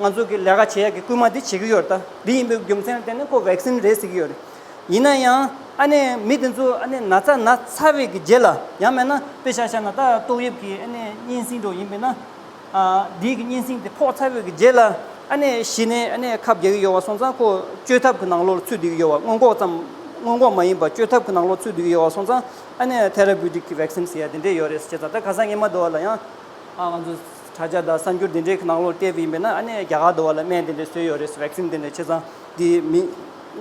ང་ཚོ་གི་ལས་ཀ་བྱེད་ཡག་གི་སྐུལ་མ་འདི་བྱེད་ཀྱི་ཡོད་རེད་ད། འདི་ཡིན་པའི་རྒྱུ་མཚན་ལ་བརྟེན་ནས་ཁོ vaccine རེད་ཟེར་གྱི་ཡོད་རེད། ཡིན་ན་ཡང་ཨ་ནེ་མི་དེ་ཚོ་ཨ་ནེ་ན་ཚ་ན་ཚ་བས་ཀྱི་རྗེས་ལ་ཡང་མེད་ན་དཔེ་ཤ་ཤ་ན་ད་ཏོག་དབྱིབས་ཀྱི་ཨ་ནེ་གཉན་སྲིན་འགྲོ་ཡིན་པས་ན། དེའི་གི་གཉན་སྲིན་དེ་ཕོག་ཚ་བས་ཀྱི་རྗེས་ལ་ཨ་ནེ་ཤི་ནས་ཨ་ནེ་ཁབ་རྒྱག་གི་ཡོད་བ་སོང་ཙང་ཁོ་བཅོས་ཐབས་ཀྱི་ནང་ལོག་ལ་ཚུད་སྡོད་ཀྱི་ཡོད་བ་སྔོན་འགོག་ཙམ། སྔོན་འགོག་མ་ཡིན་པ་བཅོས་ཐབས་ཀྱི་ནང་ལོག་ཚུད་སྡོད་ཀྱི་ཡོད་བ་སོང་ཙང་ཨ་ནེ therapeutic གི vaccine ཟེར་ཡ་དེ་འདྲས་ཡོད་རེད་ཟེར་བྱས་ཙང་ད་ག་ས་ངན་མ་འདུག་བ་ལ་ཡང་ང་ཚོ། ད་ཆ་དང་གསར་འགྱུར་འདི་འདྲའི་ནང་ལོག་བལྟས་པ་ཡིན་པས་ན་ཨ་ནེ་རྒྱ་གར་དུ་བ་ལ་སྨན་འདི་འདྲ་བཟོས་ཡོད་རེད vaccine འདི་འདྲ་ཆེ་ཚང་འདི་མི་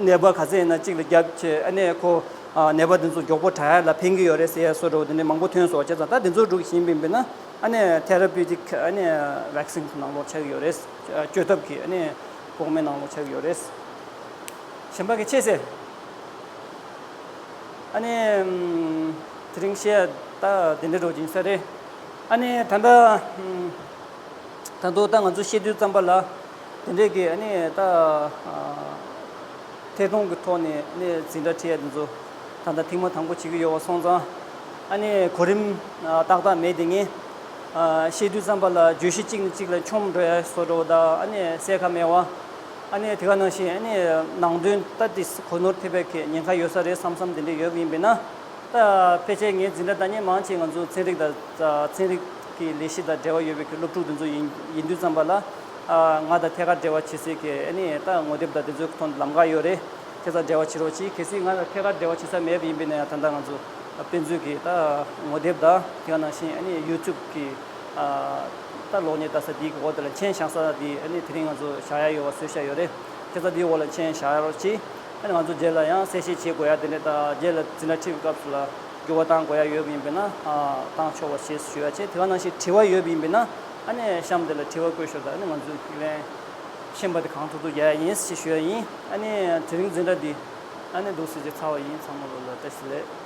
ནད་པ་ག་ཚད་ཡིན་ན་གཅིག་ལ་བརྒྱབ་ཆེ་ཨ་ནེ་ཁོ་ནད་པ་འདི་ཚོ་མགྱོགས་པོ་དྲག་ཡ་ལ་ཕན་གི་ཡོད་རེད་ཟེར་ཡ་སོ་དྲ་བོ་འདི་འདྲ་མང་པོ་ཐོན་སོང་ཆེ་ཚང་ད་འདི་ཚོ་སྒྲུག་བཞིན་པ་ཡིན་པས་ན་ཨ་ནེ therapeutic ཨ་ནེ vaccine ཁོ་ནང་ལོག་ཆགས་ཀྱི་ཡོད་རེད་བཅོས་ཐབས་ཀྱི་ཨ་ནེ་འགོག་སྨན་ནང་ལོག་ཆགས་ཀྱི་ཡོད་རེད། གཞན་པ་གི་ཆེ་ཟེར། ཨ་ནེ། དེ་རིང་བཤད་ད་འདི་འདྲ་སྒྲོག་གི་ཡིན་ས་རེད། ཨ་ནི་ད་ལྟ། ད་དུང་ད་ང་ཚོ་བཤད་དུས་བརྩམས་པ་ལ། དེ་འདྲས་ཀྱི་ཨ་ནི་ད། ཐད་གཏོང་གི་ཐོག་ནས་ཨ་ནི་འཛིན་གྲྭ་འཁྲིད་ཡ་དེ་ཚོ། ད་ལྟ་ཐེངས་མ་དང་པོ་བྱེད་ཀྱི་ཡོད་བ་སོང་ཙང། ཨ་ནི་གོ་རིམ་ཏག་ཏག་མེད་དེ་ངས། བཤད་དུས་བརྩམས་པ་ལ་བརྗོད་གཞི་གཅིག་ནས་གཅིག་ལ་འཁྱོམ་འགྲོ་ཡ་བཟོ་འགྲོ་བ་དག་ཨ་ནི་གསལ་ཁ་མེད་བ། ཨ་ནི་དེ་ག་ནང་བཞིན་ཨ་ནི་ནང་དོན་ལྟ་དེ་གོ་ནོར་ཐེབས་པའི་ཁེ་ཉེན་ཁ་ཡོད་ས་རེད་བསམ་བསམ་དེ་འདྲས་ཡོད་ཡིན་པས་ན། ཕལ་ཆེར་ངའི་འཛིན་གྲྭ་དང་ནི་མང་ཆེ་ང་ཚོ་ཚན་རིག་དང་ཚན་རིག་གི་ལས་གཞི་དང་འབྲེལ་བ་ཡོད་པའི་སློབ་ཕྲུག་དེ་ཚོ་ཡིན་ཡིན་དུས་ཙམ་པ་ལ། ང་དང་ཐད་ཀར་འབྲེལ་བ་བྱེད་སའི་གི་ནི་ད་ངོ་དེབ་དང་དེ་ཚོའི་ཐོག་ནས་ལམ་ཁ་ཡོད་རེད། ཁྱེད་ཚང་འབྲེལ་བ་བྱེད་རོགས་གྱིས་གལ་སྲིད་ང་དང་ཐད་ཀར་འབྲེལ་བ་བྱེད་ས་མེད་པ་ཡིན་པས་ན་ཡང་ད་ལྟ་ང་ཚོ་དཔེ་མཛོད་ཀྱི་ད་ངོ་དེབ་དང་དེ་ག་ནང་བཞིན་ཨ་ནི YouTube གི་ད་ལོག་ནས་ད་ས་དེའི་གི་འོག་དེ་ལ་མཆན་བཞག་ས་དེ་ཨ་ནི་དེ་རིང་ང་ཚོ་བཞག་ཡ་ཡོད་བ་བཟོས་ཤ་ཡོད་རེད། ཁྱེད་ཚང་དེའི་འོག་ལ་མཆན་བཞག་ཡ་རོགས་གྱིས། ང་ཚོ་རྗེས་ལ་ཡང་གསལ་བཤད་བྱེད་དགོས་ཡ་དེ་འདྲའི་རྗེས་ལ་ཟིན་ན་ཁྲིད་པའི་སྐབས་སུ་ལ་འགྱུར་བ་བཏང་དགོས་ཡ་ཡོད་པ་ཡིན་པས་ན་བཏང་ཆོག་བ་ཞེས་ཞུ་ཡ་བྱེད་དེ་ག་ནང་བཞིན་དྲི་བ་ཡོད་པ་ཡིན་པས་ན་ཨ་ནེ་གཤམ་དེ་ལ་དྲི་བ་བཀོད་ཞོག་དང་ཨ་ནེ་ང་ཚོས་ཁས་ལེན་ཤེས་པ་དེ་གང་ཐུབ་ཐུབ་རྒྱག་ཡ་ཡིན་ཞེས་ཞུ་ཡ་ཡིན་ཨ་ནེ་དེ་རིང་འཛིན་གྲྭ་འདི་ཨ་ནེ་འདུག་ཟེར་རྗེས་ཚར་བ་ཡིན་ཚང་མ་ལོ་ལ་བཀྲ་ཤིས་ལེགས།